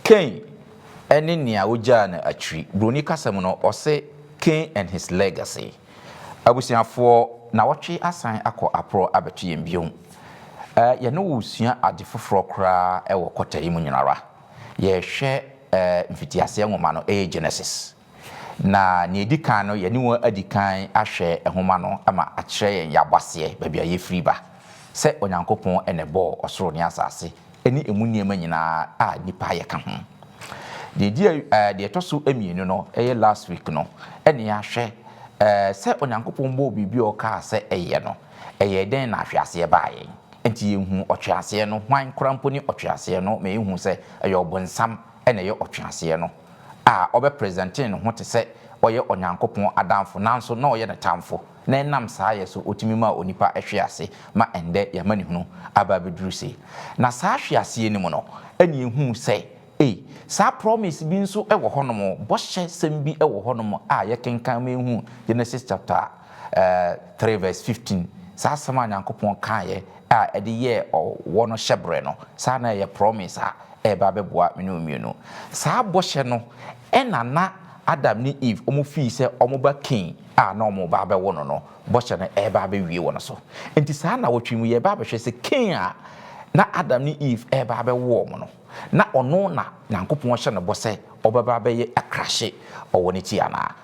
Cain ne nea wogyaa no akyiri. Buroni kasa mu no, wɔse Cain and his legacy. Abusuafoɔ, nawɔtwe asan akɔ aporɔ abɛto yɛn bio. Eh, yɛne wo resua ade foforɔ koraa wɔ kɔta yi mu nyinara. Yɛrehwɛ eh mfitiaseɛ nwoma no, ɛyɛ Genesis. Na nea edi kan no, yɛne wɔn adi kan ahwɛ nhoma no ma akyerɛ yɛn yɛn abɔaseɛ, baabi a yɛfiri ba, sɛ Onyankopɔn na ɛbɔɔ ɔsoro ne asase ne emu nneɛma nyinaa a nnipa ayɛ ka ho. Deɛ edi eh, deɛ ɛtɔ so mmienu no, ɛyɛ last week no, ɛne yɛahwɛ eh, sɛ Onyankopɔn bɔɔ biribi a ɔkaa sɛ ɛyɛ no, ɛyɛɛ dɛn na ahweaseɛ baa yɛn. Enti yɛhuu ɔtweaseɛ no, hwan koraa mpo ne ɔtweaseɛ no ma yɛhuu sɛ ɛyɛ ɔbonsam na ɛyɛ ɔtweaseɛ no. a ɔbɛpresɛntee ne ho te sɛ ɔyɛ Onyankopɔn adamfo nanso na ɔyɛ ne tamfo, na ɛnam saa yɛ so otumi maa onipa hwee ase ma ɛnnɛ yɛn amanehunu aba abeduru sei. Na saa hwe aseɛ no mu no ɛna yɛhuu sɛ ei, saa promise bi nso wɔ hɔnom, bɔhyɛ sɛm bi wɔ hɔnom a yɛkenkan ma yɛhuu Genesis chapter three verse fifteen, saa asɛm a Nyankopɔn kaeɛ, a ɛde yɛɛ ɔwɔ no hyɛberɛ no, saa na ɛyɛ promise a ɛreba abɛboa me ne wo mmienu. Saa bɔhyɛ no na na Adam ne Eve wɔn fii sɛ wɔn ba Cain a na wɔn reba abɛwo no no, bɔhyɛ no reba abɛwie wɔ no so. Enti saa nnawɔtwe yi mu yɛreba abɛhwɛ sɛ Cain a na Adam ne Eve reba abɛwo wɔn no, na ɔno na Nyankopɔn hyɛ no bɔ sɛ ɔbɛba abɛyɛ akrahye ɔwɔ no ti anaa?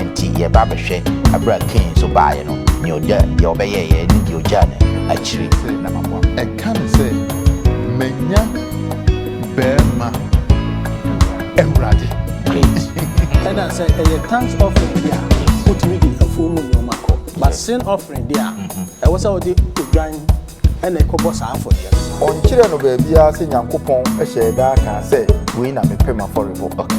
Enti yɛba bɛhwɛ, bere a Kain nso baeɛ no, nea ɔgya, deɛ ɔbɛyɛeɛ ne deɛ ɔgyaa no akyire. Sɛ na maboa. Ɛka no sɛ, Manya. Bɛɛma Awurade. Great. Ɛna sɛ ɛyɛ thanks offering bi a, wotumi de afuo mu nneɛma kɔ. But sin offering deɛ a, ɛwɔ sɛ wode odwan ɛna ɛkɔbɔ saa afɔdeɛ no. Ɔnkyerɛɛ no baabiara sɛ Nyankopɔn hyɛɛ da kaa sɛ, Wei na mepɛ m'afɔrebɔ. Okay.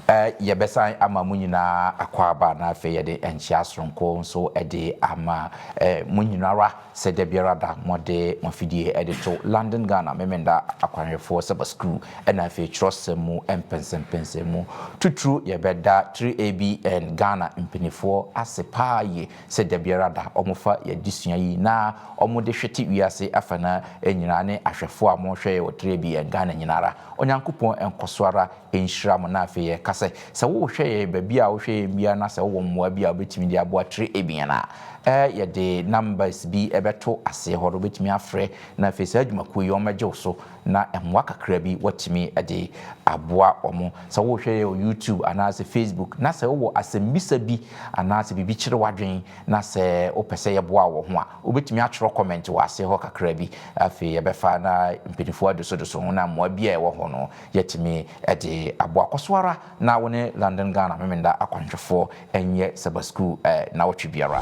Ɛ, yɛbɛsan ama mo nyinaa akwaaba na afei yɛde nkyea soronko nso de ama ɛ, mo nyinara. Sɛ da biara da mode mo afidie de to London Ghana Memenda Akwanhwɛfoɔ Saba Sukuu na afei twerɛsɛm mu mpɛnsɛmpɛnsɛm mu titiriw yɛbɛda 3ABN Ghana mpanifoɔ ase paa yie sɛ da biara da wɔfa yɛn adesua yi na wɔde hwete wiase afanaa nyinaa ne ahwɛfoɔ a mohwɛ yɛn wɔ 3ABN Ghana nyinara Onyankopɔn nkɔso ara nhyira mo na afei yɛka sɛ sɛ wohwɛ yɛn baabi a wohwɛ yɛn biara na sɛ wowɔ mmoa bi a wobɛtumi de aboa tire abien a ɛɛ yɛde numbers bi bɛto aseɛ hɔ no wobɛtumi afrɛ na afei saa adwumakuo yi wɔmmɛgye wo so na mmoa kakra bi watumi de aboa wɔn sɛ wohwɛ yɛn wɔ YouTube anaasɛ Facebook na sɛ wowɔ asɛmbisa bi anaasɛ biribi kyere w'adwene na sɛ wopɛ sɛ yɛboa wɔ ho a Wobɛtumi atwerɛ kɔmɛnt wɔ ase hɔ kakra bi. Afei yɛbɛfa na mpaninfoɔ adosodoso ho na mmoa biara a ɛwɔ hɔ no yɛatumi de aboa. Kɔ so ara na wo ne London Ghana Memeneda akwanhwɛfoɔ nyɛ Saba Sukuu nnawɔtwe biara.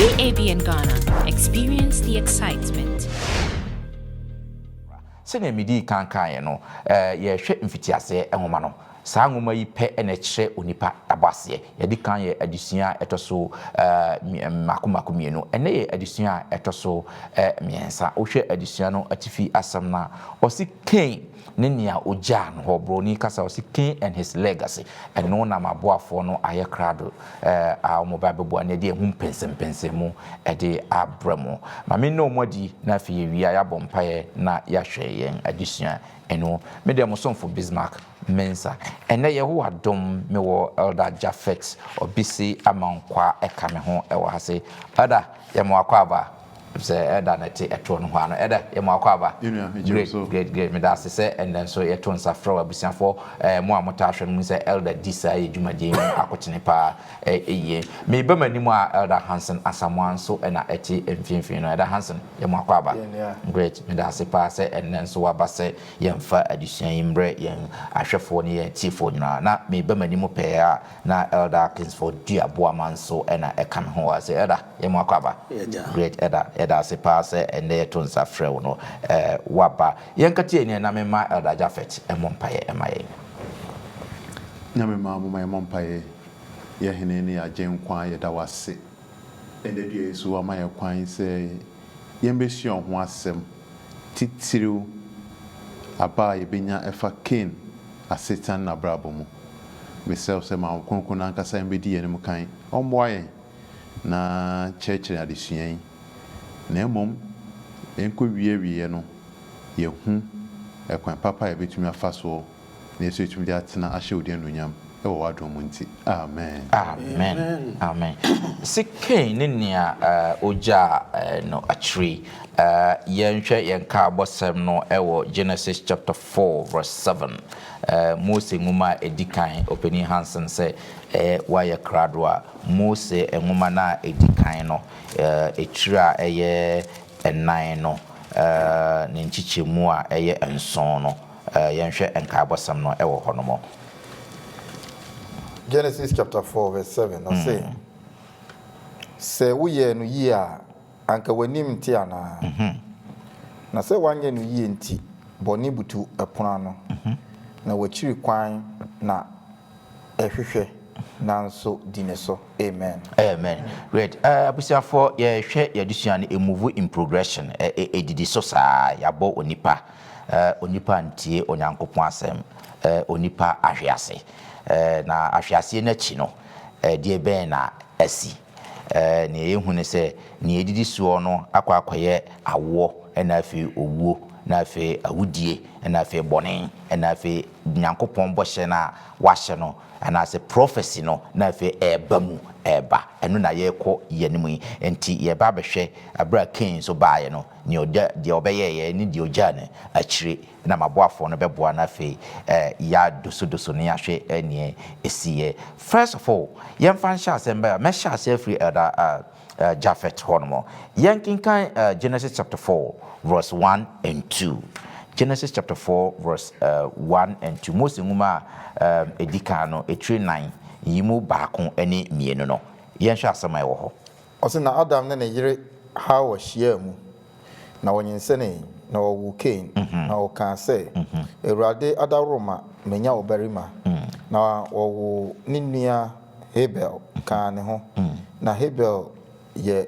UABN Ghana, experience the excitement. Sɛnea midii kan kaeɛ no, yɛrehwɛ mfitiaseɛ nwoma no. Saa nwoma yi pɛ na ɛkyerɛ onipa abɔaseɛ. Yɛadi kan yɛɛ adesua a ɛtɔ so mmaako mmaako mmienu. Ɛnnɛ yɛ adesua a ɛtɔ so mmiɛnsa. Wohwɛ adesua no atifi asɛm no a, ɔse Kain ne nea ogyaa no hɔ, Broni kasa, ɔse King and his legacy, ɛno na m'aboafoɔ no ayɛ krado a wɔn ba bɛboa no de ahu mpɛnsɛmpɛnsɛm mu de abrɛ mo. Ma me nna wɔn adi na afei yɛwie a yɛabɔ mpaeɛ na yɛahwɛ yɛn adesua no mu. Me deɛ mo somfo Bismarck Mensah. Ɛnnɛ Yehowa dom me wɔ Elder Japhet Obisi Amankwah ɛka me ho wɔ ha se. Elder, yɛma wo akwaaba. Sɛ ɛda na ɛte ɛtoɔ no hua no ɛdɛ yɛ mo akwaaba. Great great great meda ase sɛ ɛnɛ nso yɛto nsa frɛ wo abusuafoɔ ɛɛ mo a mo taa hwɛ no mu sɛ Elder di saa yɛ dwumadie mu akotene paa ɛɛ yie. Me ba m'anim a Elder Hanson Asamoah nso ɛna ɛte mfinfini no Elder Hanson yɛ mo akwaaba. Great meda ase paa sɛ ɛnɛ nso waba sɛ yɛn fa adesua yi mbrɛ yɛn ahwɛfoɔ ne yɛn atiefoɔ nyinaa na me ba m'anim pɛɛ a Na Elder Atkins for Dua Boamah nso na ɛka me ho. Ɔse Elder yɛ mo akwaaba. Great Elder yɛda ase paa sɛ ɛnnɛ yɛto nsa frɛ wo no woaba. Yɛn nkateɛ nie na me mma Elder Japhet mmɔ mpaeɛ mma yɛn. Nyame mma momma yɛmmɔ mpaeɛ. Yɛ Hene ne yɛ Agyenkwa yɛda wo ase ɛnnɛ dua yi so woama yɛn kwan sɛ yɛn bɛsua wo ho asɛm titiriw aba a yɛbɛnya ɛfa Cain. asetena ne n'abrabɔ mu. Mesrɛ wo sɛ ma wo Kronkron no ankasa mmɛdi yɛn anim kan, ɔmmoa yɛn na kyerɛkyerɛ yɛn adesua yi, na mmom ɛnkɔwie awieɛ no yɛahu ɛkwan papa a yɛbɛtumi afa soɔ na yɛso yɛtumi de atena ahyɛ wo din anuonyam ɛwɔ w'adom mu nti. Amen. Amen. Amen. Se Kain ne nea ogyaa no akyire yi, yɛnhwɛ yɛn nkaabɔsɛm no wɔ Genesis chapter. four verse seven, Mose Nwoma a Edi Kan, Ɔpanyin Hansen sɛ ɛyɛ wɔayɛ krado a Mose Nwoma no a Edi Kan no tiri a ɛyɛ nnan no ne nkyekyɛmu a ɛyɛ nson no. Yɛnhwɛ nkaebɔsɛm no wɔ hɔnom. Genesis chapter four verse seven, ɔse, Sɛ woyɛɛ no yie a. Anka w'anim nte anaa? Na sɛ woanyɛ no yie nti bɔne butu pono ano, na w'akyiri kwan na ɛhwehwɛ nanso di ne so. Amen. Amen great eh abusuafoɔ yɛ hwɛ yɛ adesua no e move in progression ɛ ɛ edidi so saa yabɔ onipa ɛ onipa antie onyankopɔn asɛm ɛ onipa ahwe ase ɛ na ahwe aseɛ no akyi no ɛ deɛ bɛn na asi. Nea yehu ne sɛ, nea edidi soɔ no akɔ akɔyɛ awoɔ, ɛna afei owuo, na afei awudie, ɛna afei bɔne, ɛna afei Nyankopɔn bɔhyɛ no a Wahyɛ no, anaasɛ prophecy no, na afei ɛreba mu, ɛreba. Ɛno na yɛrekɔ yɛn anim yi. Enti yɛreba abɛhwɛ, berɛ a Kain nso baeɛ no, nea ɔda, deɛ ɔbɛyɛeɛ ne deɛ ɔgyaa no akyire. na m'aboafoɔ no bɛboa na afei ya dosodoso ne yahwɛ neɛ ɛsiiɛ. First of all, yɛmfa nhyɛ aseɛ mbɛ a, mɛhyɛ aseɛ afiri Elder Japhet hɔ nom. Yɛnkenkan Genesis chapter four verse one and two. Genesis chapter four verse one and two. Mose nwoma a ɛdikan no, ɛtire nan, yi mu baako ne mmienu no. Yɛnhwɛ asɛm a ɛwɔ hɔ. Ɔse na Adam ne ne yere Hawa hyiaa mu, na wɔnyinsɛnee, na wɔwoo Kain, na ɔkaa sɛ, Awurade adaworoma manya ɔbarima, na wɔwoo ne nua Habel kaa ne ho, na Habel yɛ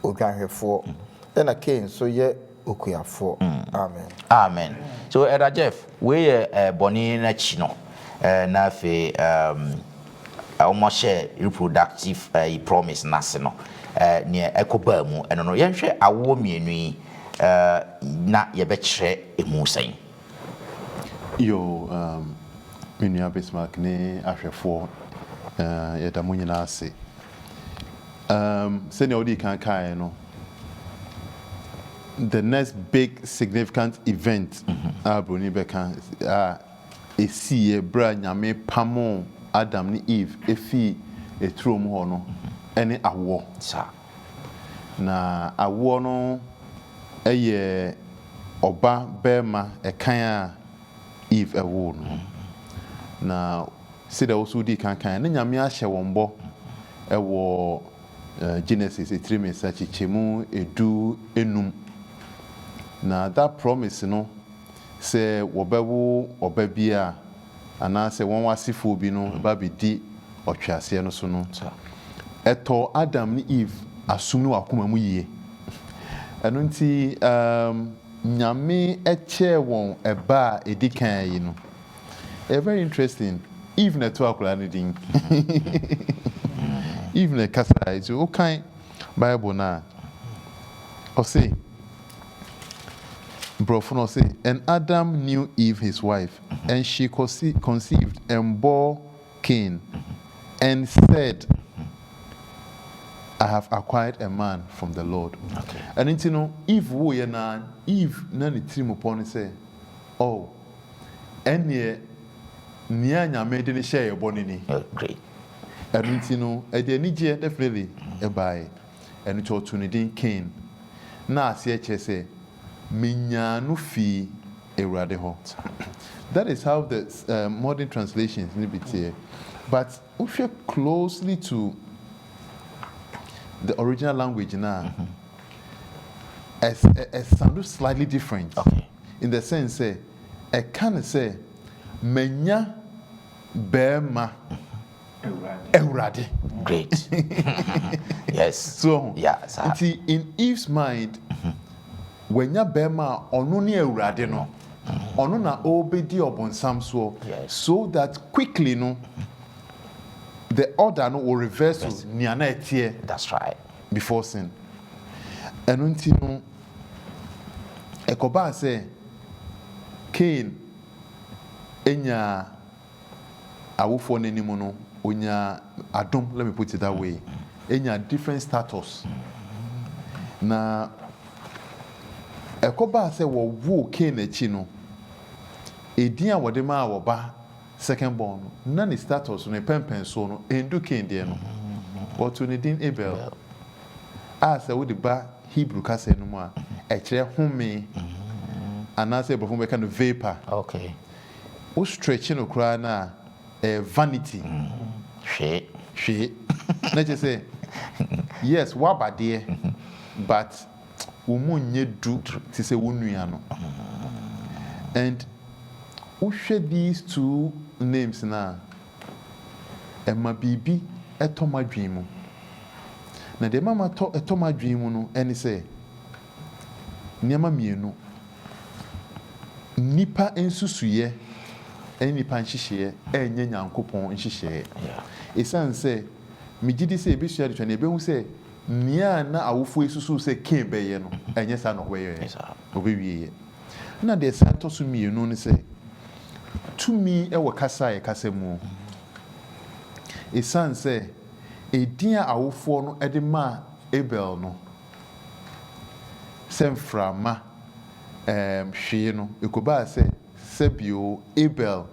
odwanhwɛfoɔ, ɛna Kain nso yɛ. okuafoɔ. Amen. Amen. So Elder Jeff, wei yɛ eh, bɔne no akyi no eh, na afei um, wɔhyɛ reproductive eh, promise no ase no eh, neɛ ɛkɔbaa mu ɛno no yɛnhwɛ awoɔ mmienu yi eh, na yɛbɛkyerɛ ɛmu sɛn? Yo, um, me nua Bismarck ne ahwɛfoɔ, uh, yɛda mo nyinaa ase. Um, sɛnea wodii kan kaeɛ no, the next big significant event mm-hmm. a Broni bɛka a ɛsiiɛ berɛ a Nyame pamoo Adam ne Eve ɛfii ɛturo mu hɔ no mm-hmm. ɛne awoɔ. Na awoɔ no ɛyɛ ɔba bɛrima ɛkan a Eve ɛwoo no. Mm-hmm. Na Sɛdeɛ wo nso wodii kan kaeɛ no, na Nyame ahyɛ wɔn bɔ wɔ Genesis etire mmiɛnsa kyekyɛ mu edu nnum. Na that promise no sɛ wɔbɛwo ɔba bi a anaasɛ wɔn asefoɔ bi no ba bɛdi ɔtweaseɛ no so no, ɛtɔɔ Adam ne Eve asom ne wɔn akoma mu yie. Ɛno nti Nyame kyɛɛ wɔn ɛba a ɛdi kan yi no. Ɛyɛ very interesting. Eve na ɛtoo akwadaa no din. Eve na ɛkasae. Nti wokan Bible no a, ɔse, Borɔfo no ɔse, And Adam knew Eve his wife, and she conceived and bore Cain, and said, I have acquired a man from the Lord. Ɛno nti no, Eve wooyɛ no ara, Eve na ne tirim pɔ no sɛ, Oh, ɛnneɛ nea Nyame de no hyɛɛ yɛn bɔ no ni. Nokorɛ. Ɛno nti no, ɛde anigyeɛ, definitely, baeɛ. Ɛno nti ɔtoo no din Kain, na aseɛ kyerɛ sɛ, Menyaa no fii Awurade hɔ. That is how the modern translations no bi teɛ. But wohwɛ closely to the original language no a, Ɛsounde slightly different in the sense sɛ ɛka no sɛ manya barima Awurade. Great. Yes. So ɔho. Yeah, sir. Nti in Eve's mind, wanya barima a ɔno ne Awurade no. Ɔno na ɔrebɛdi ɔbonsam soɔ. Yes. So that quickly no, the order no will reverse to nea na ɛteɛ. That's right. before sin. Ɛno nti no, ɛkɔbaa sɛ Kain nyaa awofoɔ no anim no, ɔnyaa adom, let me put it that way, ɔnyaa different status. Na ɛkɔbaa sɛ wɔwoo Kain akyi no, edin a wɔde maa wɔba Second born no, na ne status no, ne pɛnpɛnsoɔ no, ɛndu Kain deɛ no. Wɔtoo ne din Abel, a sɛ wode ba Hebrew kasa no mu a, ɛkyerɛ home, anaasɛ Aborɔfo no bɛka no vapour. Wo stretche no koraa no a, ɛyɛ vanity. Hwee. Hwee. Na kyerɛ sɛ, yes, woaba deɛ, but wɔn mu nyɛ du te sɛ wo nua no and wohwɛ these two names no a, ɛma biribi tɔ m'adwene mu. Na deɛ ɛma matɔ ɛtɔ m'adwene mu no ne sɛ, nneɛma mmienu, nnipa nsusuiɛ ne nnipa nhyehyɛeɛ nyɛ Nyankopɔn nhyehyɛeɛ. Ɛsiane sɛ megye di sɛ yɛbɛsua adesuadeɛ no a, yɛbɛhu sɛ Nea na awofo yi susuw sɛ Kain bɛyɛ no, ɛnyɛ saa na ɔbɛyɛe. Obewieɛ. Ɛnna deɛ ɛsan tɔ so mmienu ne sɛ, tumi wɔ kasa a yɛkasa mu. Esiane sɛ edin a awofoɔ no de maa Abel no sɛ mframa hwee no, ɛkɔbaa sɛ Sɛ bio, Abel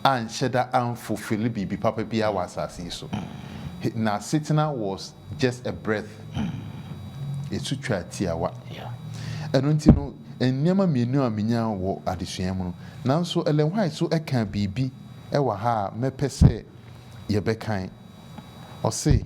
anhyɛ da anfulfille biribi papa biara wɔ asase yi so. Hi, n'asetena was just a breath, ɛtu twaa tiawa. Ɛno nti no, nneɛma mmienu a menyaa wɔ adesua yi mu no, nanso Ellen White nso kaa biribi wɔ ha a mɛpɛ sɛ yɛbɛkan. Ɔse.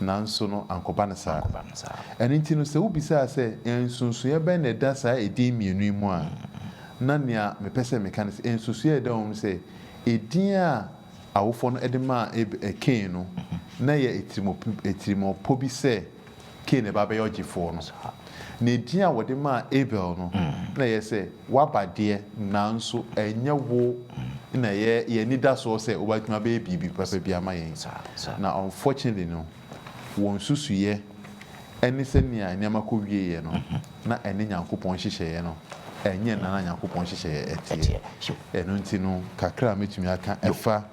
Nanso no, ankɔba no saa. Ɛno nti no, sɛ wobisaa sɛ, Nsonsonoeɛ bɛn na ɛda saa edin mmienu yi mu a, na nea mepɛ sɛ meka ne sɛ, nsonsonoeɛ a ɛda wɔ mu ne sɛ, edin a awofoɔ no de maa Ab, Kain no, na ɛyɛ atirimmɔp, atirimmɔpɔ bi sɛ Kain na ɛba bɛyɛ ɔgyefoɔ no. Na edin a wɔde maa Abel no, na ɛyɛ sɛ, W'aba deɛ, nanso ɛnyɛ wo na ɛyɛ yɛn anidasoɔ sɛ wobɛtumi abɛyɛ biribi papa bi ama yɛn. Na unfortunately no, wɔn nsusuiɛ ne sɛnea nneɛma kɔwieeɛ no, na ɛne Nyankopɔn nhyehyɛeɛ no, ɛnyɛ nna na Nyankopɔn nhyehyɛeɛ teɛ. Ɛno nti no, kakra a mɛtumi aka ɛfa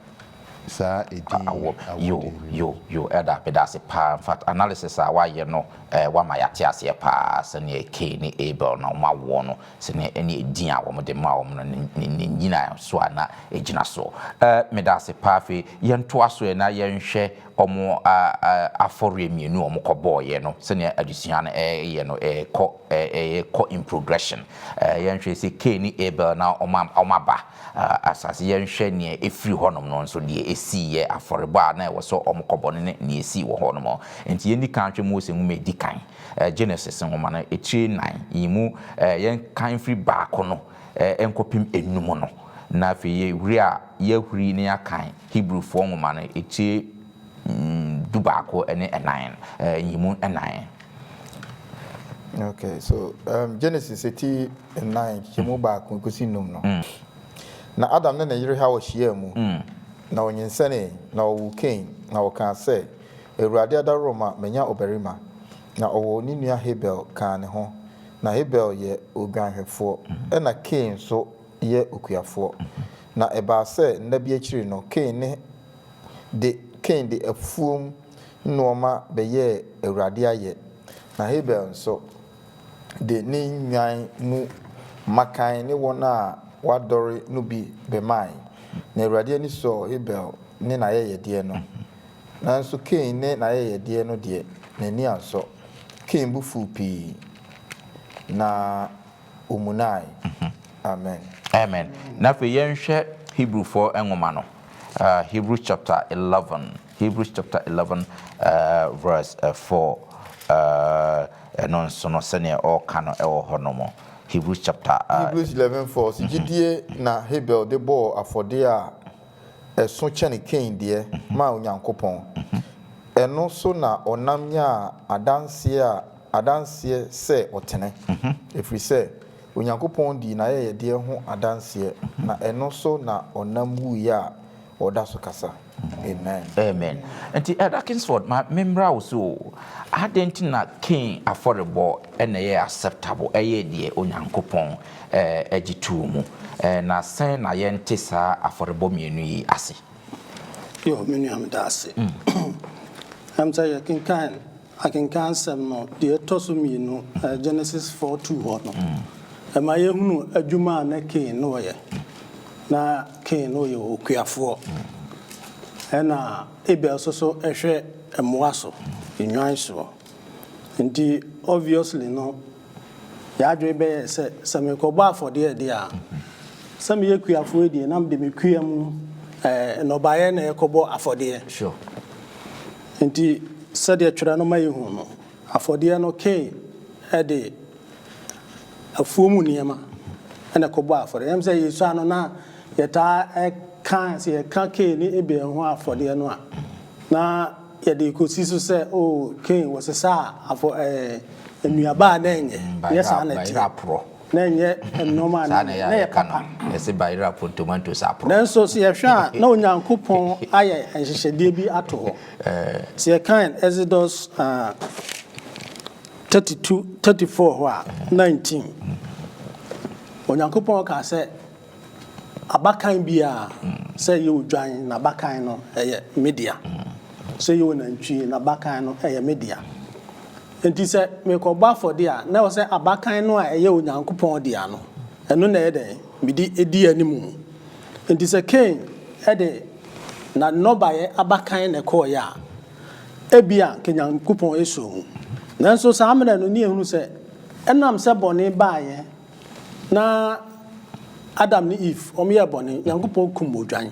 saa edin yi awɔde no mu. Yo, yo, Elder, meda ase paa. In fact, analysis a woayɛ no, eh, woama yɛate aseɛ paa sɛdeɛ Cain ne Abel na wɔawoɔ no, sɛdeɛ ɛne edin a wɔde maa wɔn no, ne, ne nnyinasoɔ a na ɛgyina soɔ. Eh, meda ase paa. Afei yɛntoa so ɛ na yɛnhwɛ wɔn a, a, afɔreɛ mmienu a wɔkɔbɔeɛ no, sɛdeɛ adesua no ɛreyɛ no, ɛrekɔ, ɛ, ɛrekɔ in progression. Eh, yɛnhwɛ sɛ Cain ne Abel na wɔn, wɔn aba. Asaseyɛ nhwɛ nea efiri hɔnom no nso, deɛ esiiɛ, afɔrebɔ a na ɛwɔ sɛ wɔkɔbɔ no ne nea esii wɔ hɔnom. Enti yɛnni kan nhwɛ Mose nwoma a edi kan, Genesis nwoma no etire nnan yi mu, yɛnkan mfiri baako no nkɔpem enum no, na afei yɛhuri a yɛahuri na yɛakan Hebrifoɔ nwoma no etire dubaako ne ɛnan yi mu nnan. Okay, so Genesis eti. nnan, hyɛ mu baako kosi nnum no. Na Adam ne ne yere Hawa hyiaa mu, na wɔnyinsɛnee, na wɔwoo Kain, na wɔkaa sɛ, Awurade adaworɔ ma manya ɔbarima. Na ɔwoo ne nua Habel kaa ne ho. Na Habel yɛ odwanhwɛfoɔ, ɛnna Kain nso yɛ okuafoɔ. Na ɛbaa sɛ nna bi akyiri no, Kain ne de Kain de afuom nnoɔma bɛyɛɛ Awurade ayɛ, na Habel nso, de ne nnwan mu mmakan ne wɔn a wɔadɔre no bi bɛmae. Na Awurade ani sɔɔ Habel ne n'ayɛyɛdeɛ no, nanso Kain ne n'ayɛyɛdeɛ no deɛ, n'ani ansɔ. Kain bo fuu pii, na ɔmunae. Amen. Amen. Na afei yɛnhwɛ Hebrifoɔ nwoma no, Hebrews chapter eleven. Hebrews chapter eleven verse four ɛno nso no sɛdeɛ ɔreka no wɔ hɔ nom Hebrews chapter. Hebrews eleven four sɛ gyidie na Habel de bɔɔ afɔdeɛ a ɛso kyɛne Kain deɛ maa Onyankopɔn, ɛno so na ɔnam nyaa adanseɛ a adanseɛ sɛ ɔtene, ɛfiri sɛ Onyankopɔn dii n'ayɛyɛdeɛ ho adanseɛ, na ɛno so na ɔnam wuiɛ a Ɔda so kasa. Amen. Amen. Nti Elder Kingsford, ma me mmra wo so o. Adɛn nti na Kain afɔrebɔ na ɛyɛɛ acceptable, ɛyɛɛ deɛ Onyankopɔn gye too mu, na sɛn na yɛnte saa afɔrebɔ mmienu yi ase? Yo, me nua, meda ase. Ɛnam sɛ yɛkenkan Akenkan asɛm no deɛ ɛtɔ so mmienu, Genesis four two hɔ no, ɛma yɛhunu adwuma a na Kain na ɔyɛ. Na Kain na ɔyɛ okuafoɔ, ɛna Abel nso so hwɛ mmoa so, nnwan so. Nti obviously no, yɛn adwene bɛyɛɛ sɛ, sɛ merekɔbɔ afɔdeɛ deɛ a, sɛ meyɛ kuafoɔ yi deɛ na mede me kua mu nnɔbaeɛ na ɛrekɔbɔ afɔdeɛ. Sure. Enti sɛdeɛ twerɛ no ma yɛhu no, afɔdeɛ no Kain de afuo mu nneɛma na ɛkɔbɔɔ afɔdeɛ. Ɛyɛ me sɛ yɛsua no na yɛtaa ka sɛ yɛka Kain ne Abel ho afɔdeɛ no a, na yɛde rekɔsi so sɛ oh Kain wɔsesaa afɔ ɛɛ nnuaba a na ɛnyɛ. Ɛnyɛ saa na ɛteɛ. Na ɛnyɛ nneɛma a na ɛyɛ na ɛyɛ papa. Yɛse bayera po tomatoes aporɔ. Nanso sɛ yɛhwɛ a, na Onyankopɔn ayɛ nhyehyɛdeɛ bi ato hɔ. Sɛ yɛkan Exodus 32, 34 hɔ a, 19, Onyankopɔn kaa sɛ. Abakan biara, sɛ ɛyɛ odwan, n'abakan no, ɛyɛ me dea. Sɛ ɛyɛ onantwi, n'abakan no, ɛyɛ me dea. Enti sɛ merekɔbɔ afɔdeɛ a, na ɛwɔ sɛ abakan no a ɛyɛ Onyankopɔn dea no, ɛno na ɛyɛ dɛn? Mede di anim. Enti sɛ Kain de n'annɔbaeɛ abakan na ɛkɔeɛ a, ebia anka Onyankopɔn suu. Nanso saa mmerɛ no, na yɛhunu sɛ ɛnam sɛ bɔne baeɛ, Na Adam ne Eve wɔn yɛɛ bɔne, Nyankopɔn kum odwan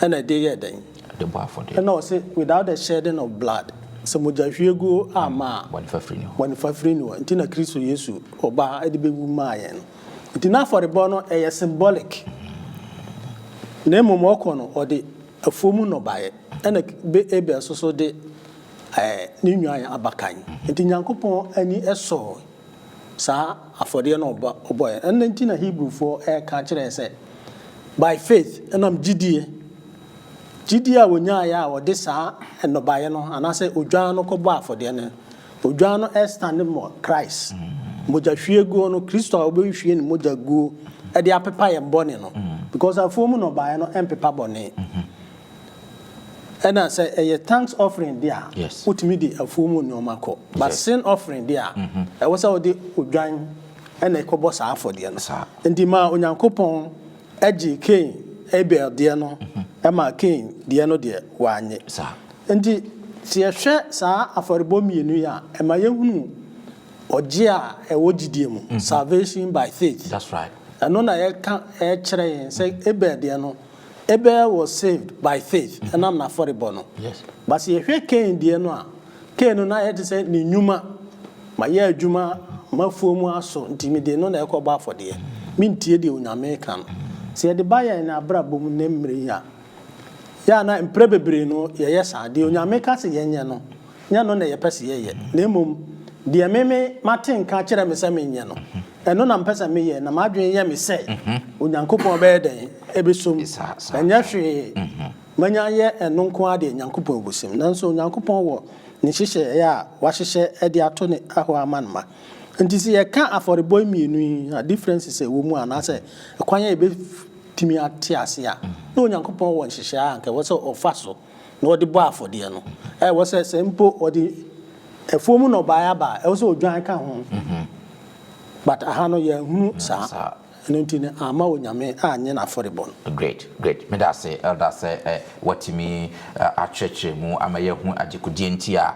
ɛna ɛde yɛɛ dɛn? Ɛde bɔɔ afɔdeɛ. Ɛna ɔse without the shedding of blood, sɛ mogya hwie guo amma a, bɔne fafiri ni hɔ. Bɔne fafiri ni hɔ, nti na Kristo Yesu ɔbaa ɛde bɛwu maa yɛn no. Nti n'afɔrebɔ no ɛyɛ symbolic, na mmom ɔkɔ no ɔde afuo mu nnɔbaeɛ, ɛna Abel nso so de ɛɛ ne nwan abakan. Nti Nyankopɔn ani ɛsɔɔ. saa afɔdeɛ no a ɔbɔeɛ. Ɛno nti na Hebrifoɔ reka kyerɛ yɛn sɛ, By faith, ɛnam gyidie, gyidie a wɔnyaaeɛ a wɔde saa nnɔbaeɛ no anaasɛ odwan no kɔbɔɔ afɔdeɛ no. Odwan no standing for Christ, mogyahwieguo no, Kristo a wɔbɛhwie ne mogya aguo de apepa yɛn bɔne no, because afuom nnɔbaeɛ no mpepa bɔne. Ɛna sɛ ɛyɛ thanks offering deɛ a, wotumi de afuo mu nneɛma kɔ. But sin offering deɛ a, ɛwɔ sɛ wode odwan ɛna ɛkɔbɔ saa afɔdeɛ no. Nti maa Onyankopɔn gye Kain, Abel deɛ no ɛmaa Kain deɛ no deɛ wannye. Nti sɛ yɛhwɛ saa afɔrebɔ mmienu yi a, ɛma yɛhunu ɔgye a ɛwɔ gyidie mu, salvation by faith. Ɛno na yɛka ɛkyerɛ yɛn sɛ Abel deɛ no, Abel was saved by faith, ɛnam n'afɔrebɔ no. But sɛ yɛhwɛ Cain deɛ no a, Cain no n'ayɛ te sɛ ne nnwuma, mayɛ adwuma, m'afuo mu aso, nti mede no na ɛrekɔ bɔ afɔdeɛ, mentie deɛ Onyame reka no. Sɛ yɛde ba yɛn abrabɔ mu nnɛ mmerɛ yi a, yɛ a na mprɛ bebree no yɛyɛ saa, deɛ Onyame ka sɛ yɛnyɛ no, nyɛ no na yɛpɛ sɛ yɛyɛ, na mmom deɛ meme mate nka akyerɛ me sɛ menyɛ no. Ɛno na mepɛ sɛ meyɛ, na m'adwene yɛ me sɛ Onyankopɔn bɛyɛ dɛn? Ɛbɛsom. Ɛnyɛ hwee. Manya ayɛ ɛno nko ara deɛ, Nyankopɔn bɛsom. Nanso Onyankopɔn wɔ Ne nhyehyɛeɛ a Wahyehyɛ de ato Ne hɔ ama Ne mma. Enti sɛ yɛka afɔrebɔ mmienu yi a differences a ɛwɔ mu anaasɛ ɛkwan a yɛbɛtumi ate aseɛ a, na Onyankopɔn wɔ nhyehyɛeɛ a anka ɛwɔ sɛ Ɔfa so. na ɔde bɔ afɔdeɛ no, ɛwɔ sɛ sɛ mpo ɔde afuo mu nnɔbaeɛ aba a, ɛwɔ sɛ odwan ka ho. But aha no yɛanhunu saa, ɛno nti no amma Onyame annye n'afɔrebɔ no. Great, great. Meda ase, Elder, sɛ woatumi akyerɛkyerɛ mu ama yɛahu adekodeɛ nti a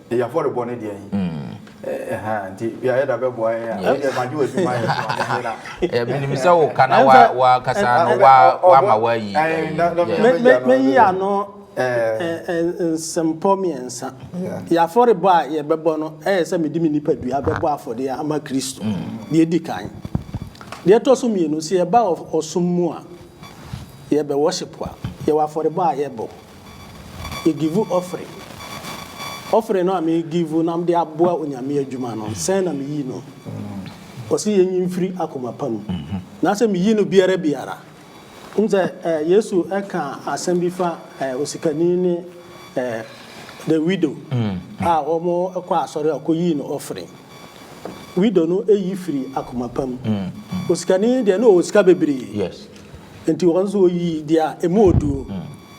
Yɛ afɔrebɔ ne deɛ yi. Ɛha nti yɛayɛ da bɛboa yɛn a. Ɛdeɛ magye wɔ adwuma yɛ so ame nyera. Menim sɛ wo ka na wa kasa no wa ma wa yi. Me yi ano nsempɔ miɛnsa. Yɛ afɔrebɔ a yɛ bɛbɔ no ɛyɛ sɛ me de me nipa dua bɛbɔ afɔdeɛ ama Kristo. Deɛ edi kan. Deɛ ɛtɔ so mienu sɛ yɛ ba ɔsom mu a yɛ bɛ worship a yɛ wɔ afɔrebɔ a yɛ bɔ. Yegivu ɔfere. Ɔfere no a megivu na mede aboa Onyame adwuma no, sɛn na meyi no? Ɔse yenyi mfiri akoma pa mu. Na sɛ meyi no biara biara, wonim sɛ Yesu ka asɛm bi fa osikani ne the widow a wɔkɔɔ asɔre a ɔkɔyii no ɔfere. Widow no yi firi akoma pa mu. Osikani deɛ na ɔwɔ sika bebree. Nti wɔn nso wɔyii deɛ ɛmu ɔdu no,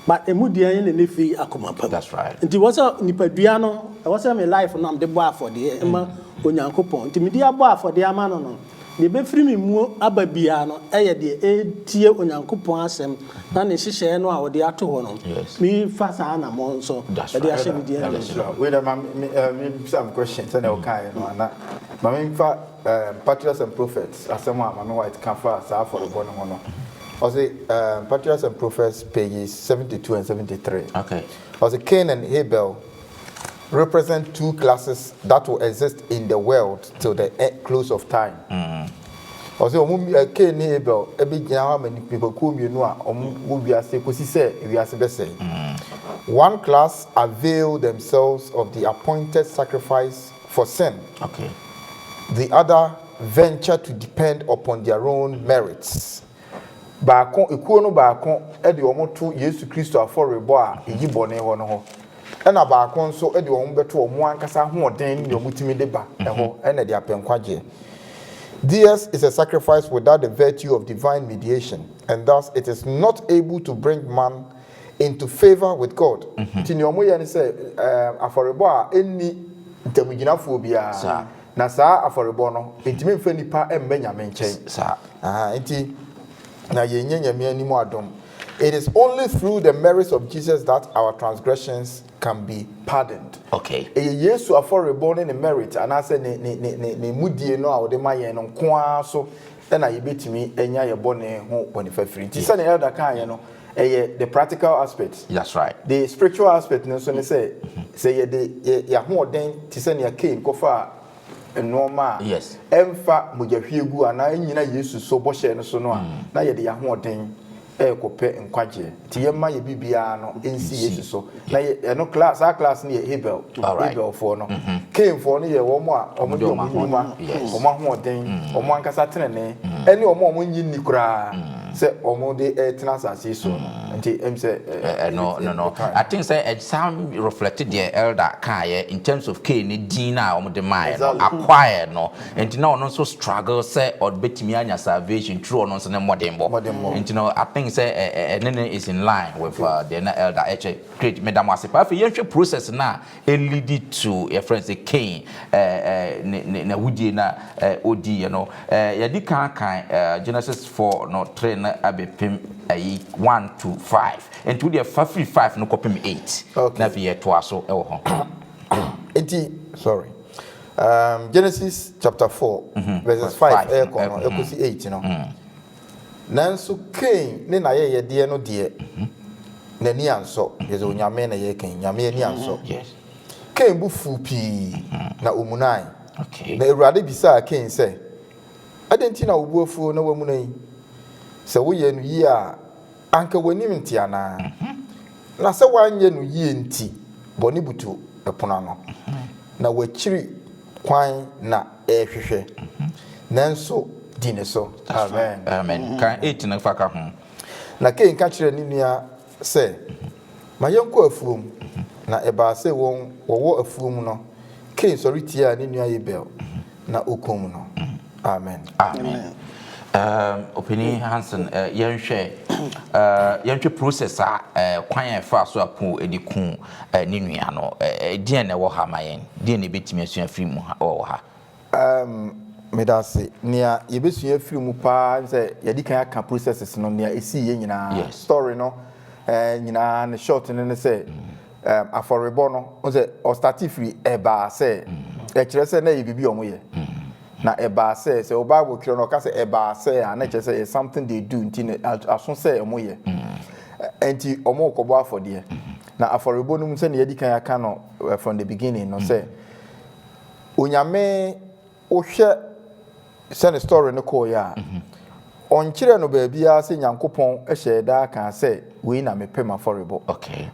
ma ɛmu deɛn na ne firi akoma pa mu. That's right. Nti ɛwɔ sɛ nipadua no, ɛwɔ sɛ me life no a mede bɔ afɔdeɛ ma Onyankopɔn, nti mede abɔ afɔdeɛ ama no no, deɛ ɛbɛfiri me mu aba biara no yɛ deɛ ɛtie Onyankopɔn asɛm na ne nhyehyɛeɛ no a ɔde ato hɔ no, Yes. mefa saa anammɔn nso That's de right. ahyɛ me deɛ Ɛda ase. animuonyam. Wei dɛ ma me me ɛɛ me bisa me question sɛnea ɔkaeɛ no a na ma me nfa Patriarchs and Prophets asɛm a Maame White ka faa saa afɔrebɔ no ho no, ɔse, Patriarchs and Prophets pages seventy two and seventy three, ɔse, Cain and Habel represent two classes that will exist in the world till the close of time. Ɔse, wɔn, Cain ne Habel, bɛgyina hɔ ama nnipakuo mmienu a wɔwɔ wiase kɔsi sɛ wiase bɛsɛe. One class avail themselves of the appointed sacrifice For sen the other venture to depend upon their own merits. Baako, ekuo no baako de wɔn to Yesu Kristo afɔrebɔ a eyi bɔne hɔ no hɔ, ɛna baako nso de wɔn bɛto wɔn ankasa ahoɔden ne nea wɔtumi de ba hɔ na de apɛ nkwagyeɛ. Theirs is a sacrifice without the virtue of divine mediation, and thus it is not able to bring man into favour with God. Nti nea wɔyɛ ne sɛ, ɛɛm, afɔrebɔ a enni ntamgyinafoɔ biara, Saa. na saa afɔrebɔ no, entumi mfa nnipa mma Nyame nkyɛn. S, saa. Ahaa, nti, na yɛnnya Nyame anim adom. It is only through the merits of Jesus that our transgressions can be pardoned. Okay. Ɛyɛ Yesu afɔrebɔ ne Ne merit, anaasɛ Ne, Ne, Ne, Ne, Ne mudie no a Ɔde ma yɛn no nko ara so na yebetumi anya yɛn bɔne ho bɔnefafiri. Nti sɛnea Elder kaeɛ no, ɛyɛ the practical aspect. That's right. The spiritual aspect no nso ne sɛ, sɛ yɛde yɛn ahoɔden te sɛ nea Kain kɔfaa nnoɔma a Yes. ɛmfa mogyahwiegu anaa ɛnnyina Yesu so bɔhyɛ no so no a, na yɛde yɛn ahoɔden rekɔpɛ nkwagyeɛ nti yɛmma yɛ biribiara no nsi Yesu so na yɛ ɛno class saa class no yɛ Abel Alright. Abelfoɔ no Mhm. Cainfoɔ no yɛ wɔn a wɔn de Wɔn de wɔn wɔn ahoɔden. nnwuma Yes. wɔn ahoɔden wɔn ankasa tenenee ɛne wɔn a wɔn nnye nni koraa sɛ wɔn de retena asase yi soɔ no nti ɛm sɛ ɛ- Ɛ- ɛno yɛbɛti- no no yɛbɛkae I no. think sɛ ɛ- saa reflect deɛ elder kaeɛ in terms of Cain ne din no a wɔde maeɛ no Exactly. acquire no Nti na ɔno nso struggle sɛ ɔbɛtumi anya salvation through ɔno nso ne mmɔdenbɔ. Nti no I think sɛ ɛne no is in line with uh, deɛ na elder ɛkyɛ. Great, meda mo ase paa. Afei yɛnhwɛ process no a ɛlidi to yɛfrɛ no sɛ Cain n'ahodie no a ɔdiiɛ no. Yɛadi kan kan Genesis 4 no 3 no abɛpem ayi 1 to 5. Nti wodeɛ fa firi 5 no kɔpem 8 na afei yɛtoa so wɔ hɔ. Nti sorry Genesis chapter four verses five ɛrekɔ no ɛkɔsi eight no, nanso Kain ne n'ayɛyɛdeɛ no deɛ, n'ani ansɔ, kyerɛ sɛ Onyame na yɛreka yi, Nyame ani ansɔ. Kain bo fuu pii na ɔmunae. Na Awurade bisaa Kain sɛ, Adɛn nti na wo bo afuo na woamuna yi? Sɛ woyɛɛ no yie a, Anka w'anim nte anaa? Na sɛ woanyɛ no yie nti bɔne butu pono ano, na w'akyiri kwan na ɛrehwehwɛ. Nanso di ne so. Amen. Amen. Kan eight no fa ka ho. Na Kain ka kyerɛɛ ne nua sɛ. Ma yɛnkɔ afuom. Na ɛbaa sɛ wɔn wɔwɔ afuom no, Kain sɔre tiaa ne nua Abel, na ɔkum no. Amen. Amen. Um, Opanin Hansen, uh, yɛnhwɛ uh, yɛnhwɛ process a uh, kwan a ɛfa so a Kain de ku uh, ne nua no, uh, deɛn na ɛwɔ ha ma yɛn? Deɛn na ebetumi asua firi mu ha wɔ ha? Umm meda ase. Nea yɛbɛsua afiri mu paa ne sɛ yɛadi kan aka processes no, nea ɛsiiɛ nyinaa. Yes. Story no eh, nyinaa ne short no ne sɛ um, afɔrebɔ no, wo sɛ ɔstate firi ɛbaa sɛ, ɛkyerɛ sɛ na ɛyɛ biribi a wɔyɛ. Na ɛbaa sɛ, sɛ wo Bible twerɛ no ɔka sɛ ɛbaa sɛ a, na ɛkyerɛ sɛ ɛyɛ something they do nti na a- aso sɛ wɔyɛ. Ɛ- Ɛnti wɔrekɔbɔ afɔdeɛ. Na afɔrebɔ no mu sɛdeɛ yɛadi kan aka no eh, from the beginning no sɛ, Onyame wo hwɛ sɛ ne story no kɔɔ yɛ a ɔnkyerɛɛ no baabiara sɛ Nyankopɔn hyɛɛ da kaa sɛ wei na mepɛ m'afɔrebɔ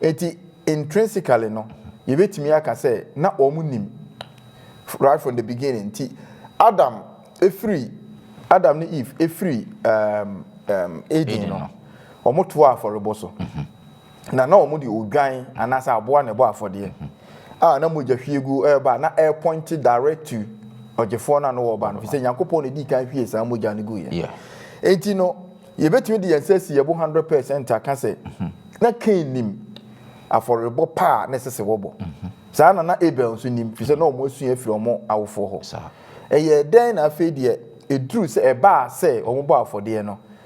nti intrinsically no yɛbɛtumi aka sɛ na wɔn nim right from the beginning nti Adam firi Adam ne Eve firi Eden no wɔn toaa afɔrebɔ so. na na wɔde odwan anaasɛ aboa na ɛbɔ afɔdeɛ a na mogya hwiegu reba a na ɛrepɔinte direct to ɔgyefoɔ no a na wɔreba no, ɛfiri sɛ Nyankopɔn na ɛdii kan hwiee saa mogya no guiɛ. Yeah. Enti no, yɛbɛtumi de yɛn nsa asi yɛn bo hundred percent aka sɛ mm-hmm. na Kain nim afɔrebɔ pa a na ɛsɛ sɛ wɔbɔ. Mm-hmm. Saa na na Abel nso nim, ɛfiri sɛ na wɔn asua afiri wɔn awofoɔ hɔ. Ɛyɛ dɛn na afei deɛ ɛduru sɛ ɛbaa sɛ wɔbɔ afɔdeɛ no?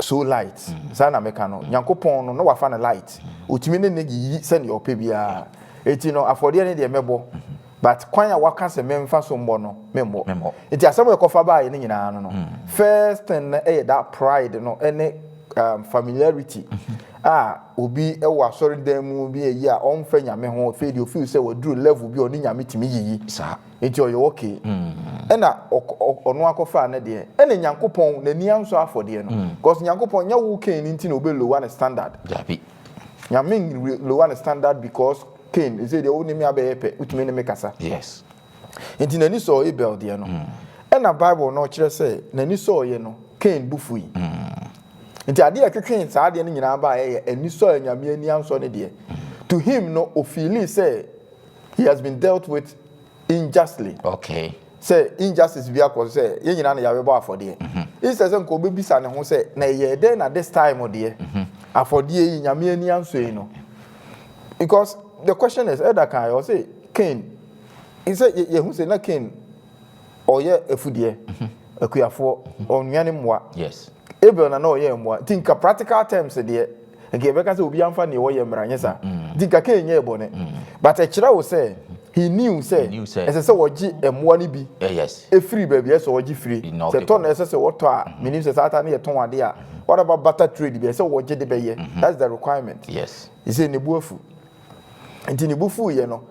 So light, saa na meka no, Nyankopɔn no na wafa no light, otumi ne no yiyi sɛnea ɔpɛ biara, enti no afɔdeɛ no deɛ mɛbɔ, but kwan a waka sɛ memfa so mmɔ no, memmɔ. Enti asɛm a ɛkɔfa baeɛ no nyinaa no no, first thing no yɛ that pride no ne um, familiarity a obi wɔ asɔredan mu bi ayi a ɔmfa Nyame ho, afei deɛ ofeel sɛ waduru level bi a ɔne Nyame tumi yiyi. Saa. Enti ɔyɛ okay. Ɛna ɔno akɔfaa ne deɛ. Ɛna Nyankopɔn n'ani ansɔ afɔdeɛ no. Cause Nyankopɔn nyɛ wo Cain nti na ɔbɛ lower ne standard. Dabi. Nyame n lower ne standard because Cain ɛsei deɛ wo ne me abɛyɛ pɛ, wotumi ne me kasa. Yes. Enti n'ani sɔɔ Abel deɛ no. Ɛna Bible no kyerɛ sɛ n'ani sɔɔɛ no, Cain bo fui. Enti adeɛ a ɛtwetwee saa adeɛ no nyinaa baeɛ yɛ anisɔ a Nyame ani ansɔ ne deɛ. To him no, ɔfeeli sɛ He has been dealt with unjustly. Okay. Sɛ injustice bi akɔ sɛ yɛn nyinaa na yɛabɛbɔ afɔdeɛ. Mhm. Instead sɛ nka ɔbɛbisa ne ho sɛ na ɛyɛ dɛn na this time deɛ mhm. afɔdeɛ yi nyame ani anso yi no. Because the question is ɛda kan yɛ ɔsɛ Cain sɛ yɛhu sɛ na Cain ɔyɛ afudeɛ mhm. akuafoɔ ɔnwɛne mmoa. Yes. Abel na na ɔyɛ mmoa. Nti nka practical terms deɛ, nka yɛbɛka sɛ obiara mfa nea ɔyɛ mmra, nyɛ saa? Nti nka Cain nyɛɛ bɔne. But ɛkyerɛ wo sɛ he knew sɛ He knew sɛ- ɛsɛ sɛ ɔgye mmoa no bi Eh, yes. firi baabi a ɛsɛ sɛ ɔgye firi. He knocked Sɛ it tɔ na down. ɛsɛ sɛ ɔtɔ a, menim sɛ saa ta no yɛ tɔn adeɛ a, whatever barter trade bi a ɛsɛ sɛ ɔgye de bɛyɛ. That's the requirement. Yes. He said ne bo afu. Enti ne bo fuiɛ no,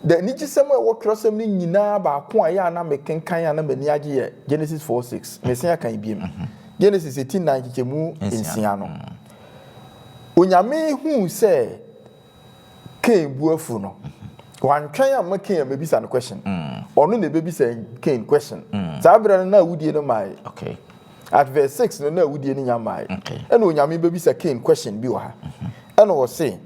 the anigyesɛm a ɛwɔ twerɛsɛm no nyinaa baako a ɛyɛ a na mekenkan a na m'ani agye yɛ Genesis four six. Mese akan biom. Genesis eti nnan nkyekyɛmu nsia no. Onyame huu sɛ Cain bu afu no, wantwɛn amma Cain ammɛbisa no question. Ɔno na ɛbɛbisa Cain question. Saa berɛ no na awudie no mmaeɛ. Okay. At verse six no na awudie no nya mmaeɛ. Okay. Ɛna Onyame bɛbisa Cain question bi wɔ ha. Ɛna ɔse,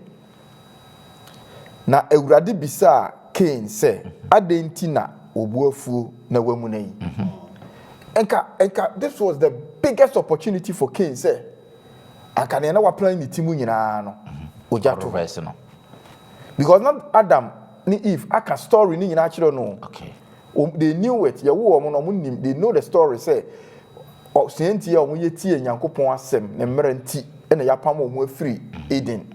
Na Awurade bisaa Kain sɛ, Adɛn nti na wo bo afuo na woamuna yi? Anka, anka this was the biggest opportunity for Kain sɛ anka nea na waplan ne ti mu nyinaa no, ogya to hɔ. Because na Adam ne Eve aka story no nyinaa akyerɛ no o. Wɔn, they knew it, yɛwoo wɔn no, wɔnim, they know the story sɛ, Ɔsua nti a wɔyɛ tiee Nyankopɔn asɛm, ne mmara nti na yɛapam wɔn afiri Eden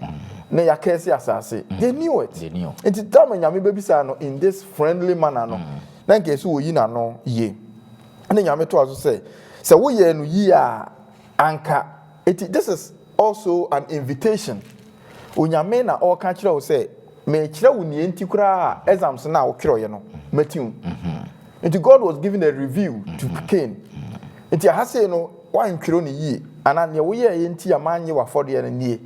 na yɛakɛɛse asase. They knew it. They knew. Nti time a Nyame bɛbisaa no in this friendly manner no, na nka ɛsɛ wɔyi n'ano yie. Ɛna Nyame toa so sɛ, sɛ woyɛɛ no yie a, anka. Nti this is Also an invitation, Onyame na ɔɔka kyerɛ wo sɛ meekyerɛ wo neɛ nti koraa a exams no a wotwerɛeɛ no mati wo. Nti God was giving a review to Cain. Nti aha sei no woantwerɛ no yie anaa neɛ woyɛeɛ nti a mannye w'afɔdeɛ no nie.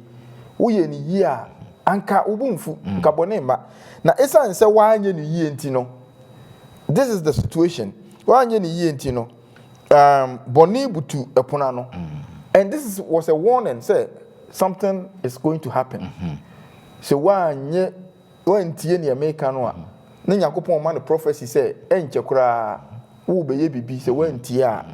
Woyɛɛ no yie a anka wo bo mfu, nka bɔne mma. Na ɛsiane sɛ woanyɛ no yie nti no, this is the situation, woanyɛ no yie nti no, Um, bɔne butu ɛpono ano. And this is, was a warning sɛ something is going to happen. Sɛ woanyɛ, woantie nea meka no a, na Nyankopɔn ma no prophecy sɛ ɛnkyɛ koraa wobɛyɛ biribi sɛ woantie a.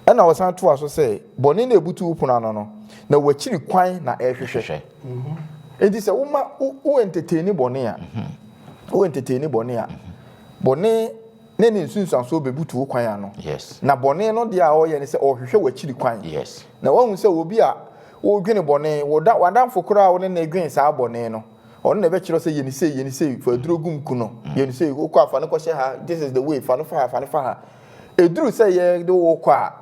Ɛna ɔsan toa so sɛ, bɔne na ɛbutu wo pono ano no, na w'akyiri kwan na ɛrehwehwɛ. Enti sɛ woma, wo entertain bɔne a, wo entertain bɔne a, bɔne ne ne nsunsuansoɔ bɛbutu wo kwan ano. Yes. Na bɔne no deɛ a ɔreyɛ ne sɛ ɔrehwehwɛ w'akyiri kwan. Yes. Na wahu sɛ obi a wodwene bɔne, woda w'adamfo koraa a wo ne no dwen saa bɔne no, ɔno na ɛbɛkyerɛ sɛ yɛ no sei, yɛ no sei, fa aduro gum ku no, yɛ no sei, wokɔ a fa no kɔhyɛ ha, this is the way, fa no fa ha, fa no fa ha. Ɛduru sɛ yɛde wo kɔ a,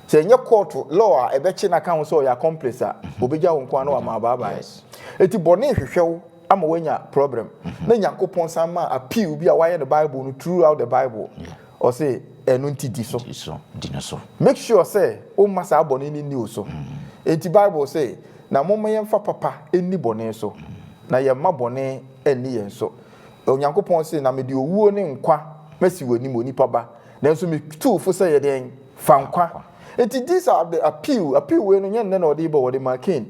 Sɛ ɛnyɛ court law a ɛbɛkye no aka ho sɛ ɔyɛ accomplice a, obegya wo nko ara na wama wo baabae. Enti bɔne hwehwɛ wo ama woanya problem. Na Nyankopɔn san maa appeal bi a wɔayɛ no Bible no throughout the Bible. Ɔse, Ɛno nti di so. Make sure sɛ womma saa bɔne no nni wo so. Enti Bible se, Na momma yɛmfa papa nni bɔne so, na yɛmma bɔne nni yɛn so. Na Onyankopɔn se, Na mede owuo ne nkwa masi w'anim, onipa ba, nanso metu wo fo sɛ yɛ dɛn? Fa nkwa. Enti these are the appeal, appeal wei no nyɛ nnɛ na ɔde rebɔ, ɔde maa Cain.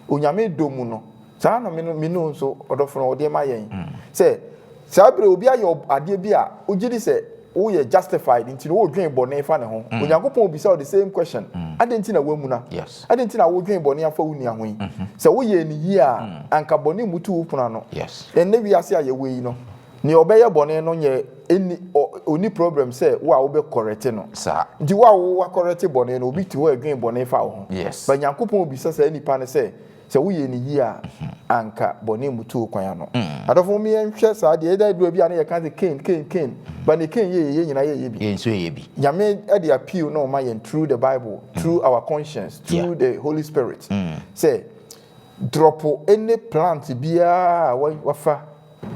Onyame dɔ mu no, saa ara na me no, me no nso, ɔdɔfo no, ɔde ma yɛn. Sɛ, saa berɛ obi ayɛ ɔb, adeɛ bi a, wogye di sɛ woyɛ justified, nti no wodwen bɔne fa ne ho. Onyankopɔn bisa wo the same question, Adɛn nti na woamuna? Adɛn nti na wodwen bɔne afa wo nua ho yi? Sɛ woyɛɛ no yie a, anka bɔne mmutu wo pono ano. Ɛnnɛ wiase a yɛwɔ yi no, nea ɔbɛyɛ bɔne no nyɛ ɛnni ɔ ɔnni problem sɛ wo a wobɛ kɔrɛte no. Nti wo a wo akɔrɛte bɔne no, obi te hɔ a ɛdwen bɔne fa wo ho. But Nyankopɔn bisa saa nipa no sɛ, Sɛ woyɛ no yie a, anka bɔne mmutu wo kwan ano. Adɔfo, momma yɛnhwɛ saa adeɛ yi. Ɛda aduru a bi a na yɛka sɛ Cain, Cain, Cain, but deɛ Cain yɛeɛ, yɛn nyinaa yɛyɛ bi. Yɛn nso yɛyɛ bi. Nyame de appeal no rema yɛn through the Bible, through our conscience, through the Holy Spirit sɛ, drɔpo any plant biara a wafa,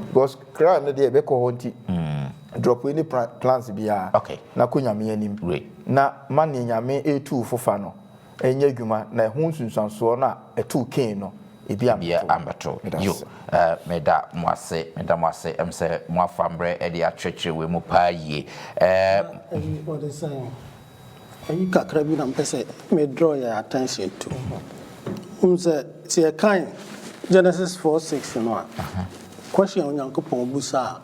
because crime no deɛ ɛbɛkɔ hɔ nti, drɔpo any plants biara na kɔ Nyame anim na ma neɛ Nyame retu wo fo fa no, nyɛ adwuma na ɛho nsunsuansoɔ no a ɛtoo Kain no ebi ammɛto. Yo, meda mo ase, meda mo ase, ɛm sɛ mo afa mmerɛ de akyerɛkyerɛ wei mu paa yie. Wɔde sɛ ayi kakra bi na mpɛ sɛ me draw yɛn attention to. Wohu sɛ sɛ yɛkan Genesis four six no a, question a Onyankopɔn busaa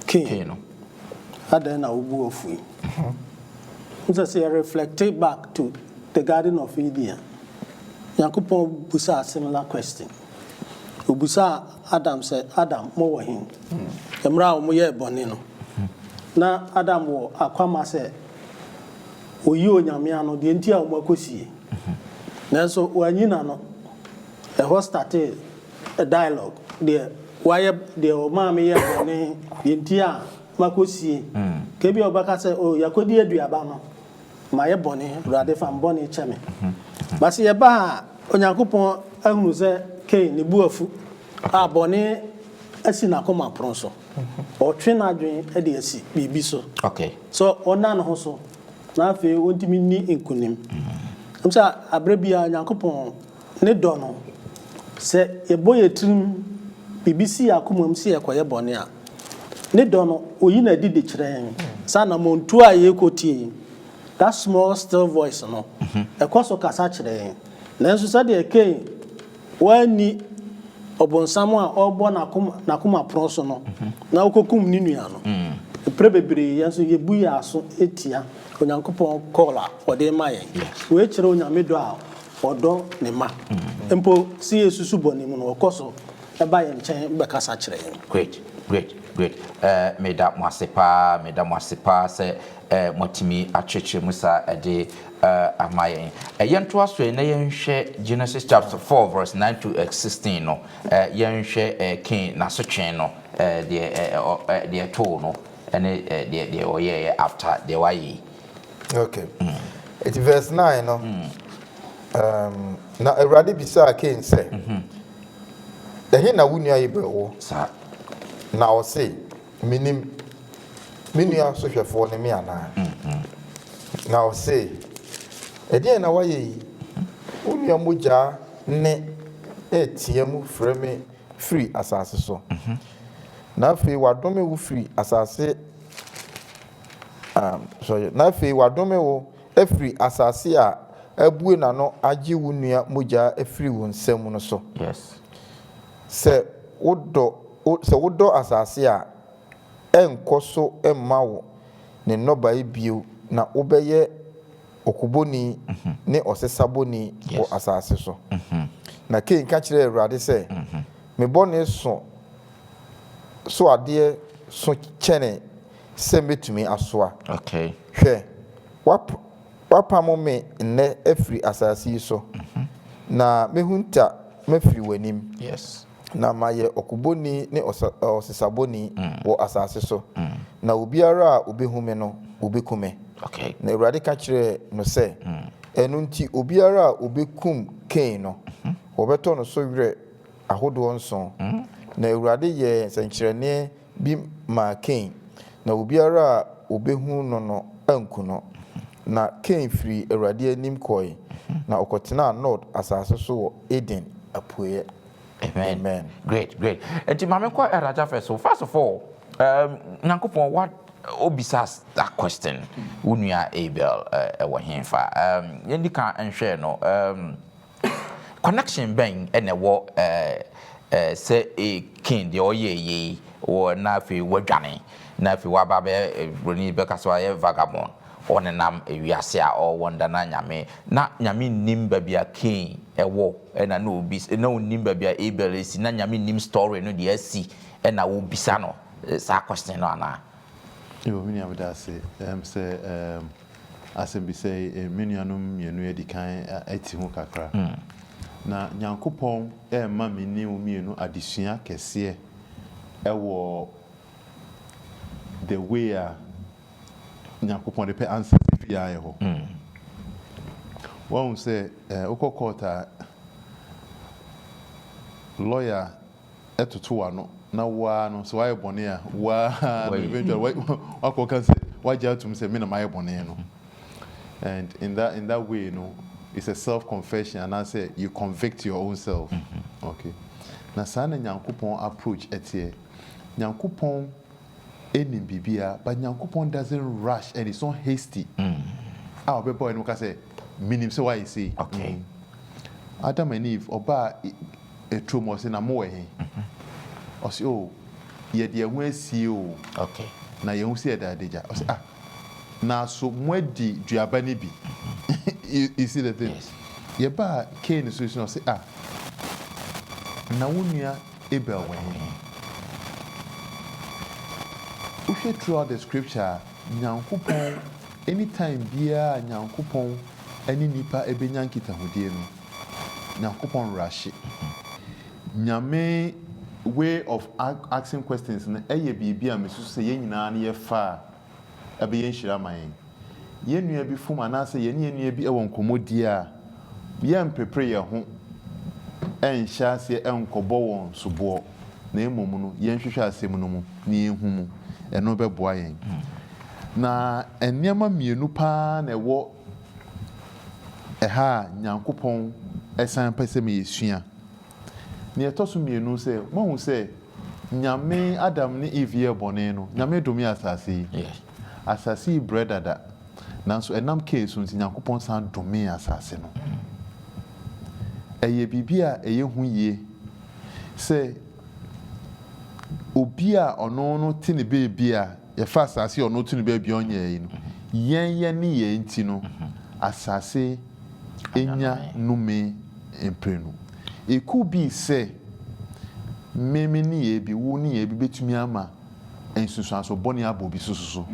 Kain no. Adɛn na wobu wo fui? Wohu sɛ sɛ yɛ reflecte back to the garden of Eden a, Nyankopɔn busaa similar question. Obusaa Adam sɛ, Adam, mo wɔ he? Mmerɛ a wɔn yɛɛ bɔne no, na Adam wɔ akwama sɛ oyi Onyame ano, deɛ nti a wɔn akɔsie. Nanso wanyi n'ano. Ɛhɔ startee. a dialogue deɛ wayɛ deɛ ɔmaa me yɛ bɔne deɛ nti a makɔ sie ka bi a ɔbɛka sɛ o oh, yɛkɔdi aduaba no mayɛ bɔne awurade fa mbɔne kyɛ me base yɛba a onyankopɔn ahunu sɛ kei ne bu afu a bɔne asi n'akoma pono so ɔtwe n'adwene de asi biribi so sɛ ɔna ne ho so na afei ɔntumi nni nkonim ɛm sɛ aberɛ bia onyankopɔn Ne dɔ no. Sɛ yɛbɔ yɛn tirim, biribi si yɛn akomam sɛ yɛrekɔyɛ bɔne a, Ne dɔ no, oyi no adi de kyerɛ yɛn. Saa anammɔntuo a yɛrekɔ tie yi, that small still voice no, ɛkɔ so kasa kyerɛ yɛn. Nanso sɛdeɛ Kain wanni ɔbonsam a ɔrebɔ n'akoma, n'akoma pono so no, na ɔkɔkum ne nua no, mprɛ bebree yɛn nso yɛbu yɛn aso tia Onyankopɔn call a ɔde rema yɛn. Wei kyerɛ Onyame dɔ a Ɔdɔ ne mma. Mpo sɛ yɛresusu bɔne mu no, ɔkɔ so ba yɛn nkyɛn bɛkasa kyerɛ yɛn. Great, great, great. Meda mo ase paa, meda mo ase paa sɛ moatumi akyerɛkyerɛ mu saa de ama yɛn. Yɛntoa so na yɛnhwɛ Genesis chapter four verse nine to sixteen no. Yɛnhwɛ Cain n'asotwe no, deɛ ɛtoo no ne deɛ ɔyɛeɛ after deɛ wayɛ yi. Ok, nti verse nine no, um, na Awurade bisaa Kain sɛ, Ɛhe na wo nua Abel wɔ? Saa. Na ɔse, Menim, me nua sohwɛfoɔ ne me anaa? Na ɔse, Ɛdeɛn na woayɛ yi? Wo nua mogya nne retea mu frɛ me firi asase so, na afei wadome wo firi asase Na afei wɔadome wo afiri asase a abue n'ano agye wo nua mogya afiri wo nsam no so. Sɛ wodɔ, sɛ wodɔ asase a, ɛrenkɔ so mma wo ne nnɔbae bio na wobɛyɛ ɔkobɔni ne ɔsesabɔni wɔ asase so. Na Kain ka kyerɛɛ Awurade sɛ, Me bɔne so so adeɛ so kyɛne. sɛ mɛtumi asoa. Hwɛ, woapamo me nnɛ afiri asase yi so, na mɛhunta mafiri w'anim, na mayɛ ɔkobɔni ne ɔsesabɔni wɔ asase so, na obiara a ɔbɛhu me no, wɔbɛku me. Na Awurade ka kyerɛɛ no sɛ, Ɛno nti obiara a ɔbɛkum Kain no, wɔbɛtɔ no so werɛ ahodoɔ nson. Na Awurade yɛɛ nsɛnkyerɛnneɛ bi maa Kain, na obiara a obehu no no anku no. Na Kain firii Awurade anim kɔe, na ɔkɔtenaa Nod asase so wɔ Eden apueɛ. Amen. Great, great. Nti ma me nkɔ Raja first o. First of all, um, Nyankopɔn wa obisa that question. Wo nua Abel uh, ɛwɔ henfa? Um, yɛndi kan nhwɛɛ no. Um, Connection bɛn na ɛwɔ sɛ Kain deɛ ɔyɛɛ yei wɔ na afei wadwane na afei waba abɛyɛ broni bɛka sɛ wayɛ vagabond ɔnenam wiase a ɔwɔ nda na Nyame na Nyame nnim baabi a Kain wɔ ɛna na obi na onnim baabi a Abel si na Nyame nnim story no deɛ asi ɛna wobisa no saa question no anaa? Yo, me nua meda ase. Ɛm sɛ ɛɛm asɛmbisa yi me nuanom mmienu adi kan ɛte ho kakra. Na Nyankopɔn ɛɛma me ne wo mmienu adesua kɛseɛ ɛwɔ the way a Nyankopɔn de pɛ answer no firi yɛn ayɛ hɔ. Wahu sɛ ɛɛ wokɔ court a lawyer toto w'ano na wo ara no, sɛ woayɛ bɔne a, wo ara no eventually wa wakɔ ka sɛ wagye atom sɛ me na mayɛ bɔne no and in that in that way no it's a self confession anaasɛ you convict your own self okay na saa na Nyankopɔn approach ɛteɛ Nyankopɔn nim biribiara but Nyankopɔn doesn't rush and it's not hasty a ɔbɛba w'anim ka sɛ menim sɛ woayɛ sei okay Adam and Eve ɔbaa Aturom ɔse na mowɔ he? Ɔse oh yɛde yɛn ho asie o na yɛahu sɛ yɛda adagya. Ɔse ah naaso moadi duaba no bi? You see the thing? Yɛbaa Kain so na ɔse ah na wo nua Abel wɔ he? Wohwɛ throughout the scripture a Nyankopɔn, anytime biaa a Nyankopɔn ne nipa bɛnya nkitahodie no, Nyankopɔn werɛ ahye. Nyame way of asking questions no yɛ biribi a mesusu sɛ yɛn nyinaa no yɛfa a ɛbɛyɛ nhyira ama yɛn. Yɛn nua bi fom anaasɛ yɛne yɛn nua bi wɔ nkɔmmɔdie a, yɛrempepere yɛn ho nhyɛ aseɛ nkɔbɔ wɔn soboɔ, na mmom no yɛnhwehwɛ asɛm no mu na yɛnhu mu. Ɛno bɛboa yɛn. Na nneɛma mmienu pa ara na ɛwɔ Ɛha a Nyankopɔn san pɛ sɛ ma yɛsua. Nea ɛtɔ so mmienu sɛ, moahu sɛ Nyame, Adam ne Eve yɛɛ bɔne no, Nyame domee asase yi? Yes. Asase yi brɛ dada, nanso ɛnam Kain so nti, Nyankopɔn san domee asase no. Ɛyɛ biribi a ɛyɛ hu yie sɛ obi a ɔno no te ne baabi a Yɛfa asase a ɔno ɔto no baabi a ɔnyɛɛ yi no, yɛn yɛn nneyɛɛ nti no, asase anya nnome mprenu. Ɛku bi sɛ, me me nneyɛɛ bi, wo nneyɛɛ bi bɛtumi ama nsunsuansoɔ bɔne abɔ obi so soso.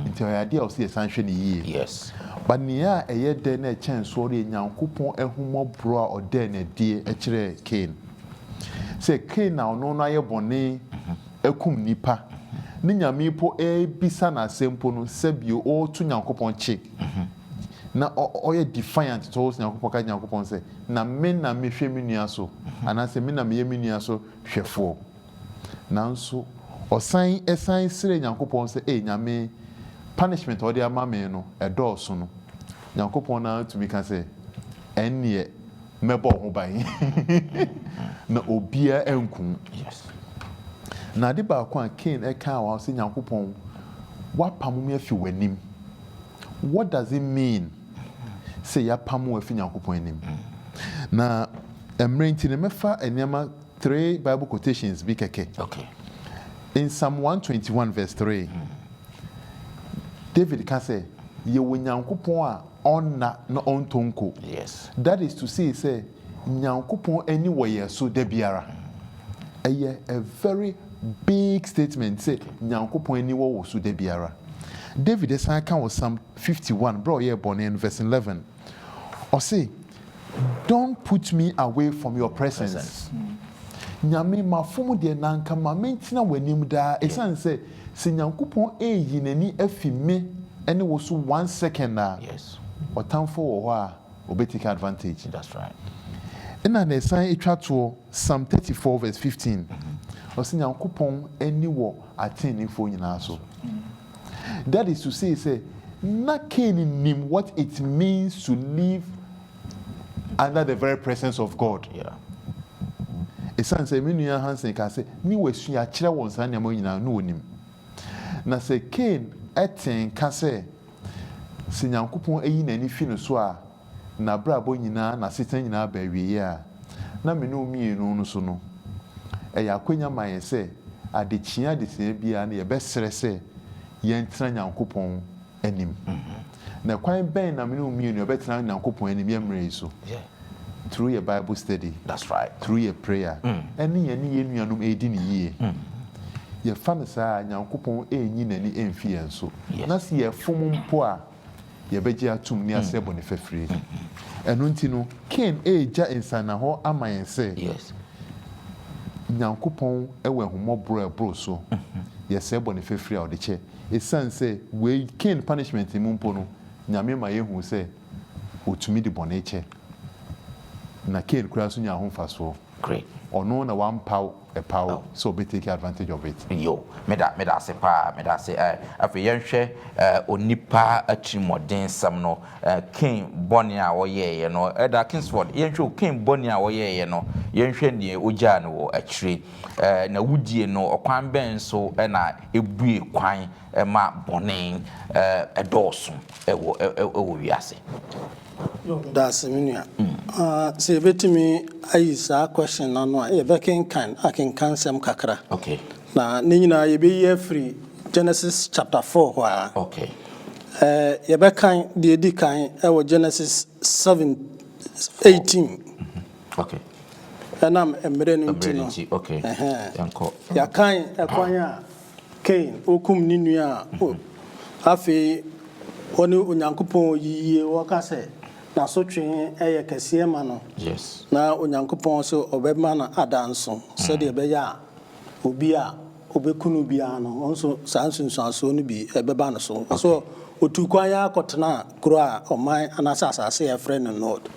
Nti ɛyɛ adeɛ a ɛwɔ sɛ yɛsan hwɛ no yie. Yes. But nea ɛyɛ dɛ na ɛkyɛn soɔ no yɛ Nyankopɔn ahummɔborɔ a ɔdaa no adie kyerɛɛ Kain. Sɛ Kain a ɔno no ayɛ bɔne akum nnipa, ne Nyame mpo ɛrebisa no asɛm mpo no sɛ bi ɔreto Nyankopɔn kye, na ɔyɛ defiant towards Nyankopɔn ka kyerɛ Nyankopɔn sɛ, na me na mehwɛ me nua so, anaasɛ me na meyɛ me nua so hwɛfoɔ. Nanso ɔsan san srɛɛ Nyankopɔn sɛ, ee Nyame, punishment a wode ama me no, ɛdɔɔso no. Nyankopɔn na tumi ka sɛ, ɛnneɛ Mɛbɔ wo ho ban, na obiara anku wo. Yes. Na ade baako a Cain kaa wɔ ha sɛ, Nyankopɔn, woapamo me afi w'anim. What does it mean sɛ yɛapamo wo afi Nyankopɔn anim? Na mmerɛ nti no, mɛfa nneɛma, three Bible quotations bi kɛkɛ. Okay. In Psalm 121 verse 3, David ka sɛ, Yɛwɔ Nyankopɔn a ɔnna na ɔntɔ nko. That is to say sɛ Nyankopɔn ani wɔ yɛn so da biara. Ɛyɛ a very big statement sɛ Nyankopɔn ani wɔ wo so da biara. David san ka wɔ Psalm fifty one berɛ a ɔyɛɛ bɔne no, verse eleven, ɔse, Don't put me away from your presence Nyame mafom deɛ na anka ma mentena w'anim daa ɛsiane sɛ sɛ Nyankopɔn ɛreyi n'ani afi me ne wo so one second a ɔtamfoɔ wɔ hɔ a ɔbɛ take advantage Ɛna na ɛsan ɛtwa toɔ Psalm thirty four verse fifteen ɔse Nyankopɔn ani wɔ ateneneefoɔ nyinaa so. That is to say sɛ na Cain nim what it means to live under the very presence of God. Yeah. Ɛsiane sɛ me nua Hansen kaa sɛ ne wasua kyerɛ wɔn saa nneɛma nyinaa na ɔnim. Na sɛ Cain te nka sɛ sɛ Nyankopɔn ayi n'ani fi no so a, n'abrabɔ nyinaa, n'asetena nyinaa ba awieeɛ a, na me ne wo mmienu no so no, ɛyɛ akwanya ma yɛn sɛ adekyeeɛ adesua biara no yɛbɛsrɛ sɛ yɛntena Nyankopɔn anim. Na ɛkwan bɛn na me ne wo mmienu yɛbɛtena Nyankopɔn anim yɛn mmerɛ yi so? Through yɛn Bible study, through yɛn prayer, ɛne yɛne yɛn nuanom ɛredi no yie. Yɛfa no saa a, Nyankopɔn ɛrenyi n'ani ɛmfi yɛn so. Na sɛ yɛfom mpo a, yɛbɛgye atom ne asrɛ bɔne fafiri. Ɛno nti no, Kain regya nsannahɔ ama yɛn sɛ, Nyankopɔn wɔ ahummɔborɔ a ɛboro so, yɛsrɛ bɔne fafiri a ɔde kyɛ. Ɛsiane sɛ wei, Kain punishment mu mpo no, Nyame ma yɛhu sɛ ɔtumi de bɔne kyɛ. Na Kain koraa nso nyaa ho mfasoɔ. Ɔno na wampaw ɛpaw sɛ ɔbɛ take advantage of it. Yo, meda meda ase paa, meda ase eh, afei yɛnhwɛ eh, onipa atirimuɔdensɛm no eh, Cain bɔne a ɔyɛeɛ no, Elder Kingsford, yɛnhwɛ o, Cain bɔne a ɔyɛeɛ no, yɛnhwɛ deɛ ɔgyaa no wɔ akyire eh, n'awudie no, ɔkwan bɛn so na ɛbue kwan ɛma bɔne dɔɔso wɔ wiase. Dase me nua. Sɛ yɛbɛtumi ayi saa question no ano a, yɛbɛkenkan akenkansɛm kakra. Na ne nyinaa yɛbɛyi afiri Genesis chapter four hɔ ara. Yɛbɛkan deɛ ɛdi kan wɔ Genesis seven eighteen. Ɛnam mmerɛ no nti no, yɛakan ɛkwan a Kain, okum ne nua a afei ɔne Onyankopɔn wɔ yiyie, wɔka sɛ n'asotwee yɛ kɛseɛ ma no, na Onyankopɔn se ɔbɛma no ada nso, sɛdeɛ ɛbɛyɛ a obi a ɔbɛku no biara no, ɔno nso saa nsunsuansoɔ no bi bɛba no so. Ɔse ɔtuu kwan ara kɔtenaa kuro a ɔman anaasɛ asase a yɛfrɛ no Nod.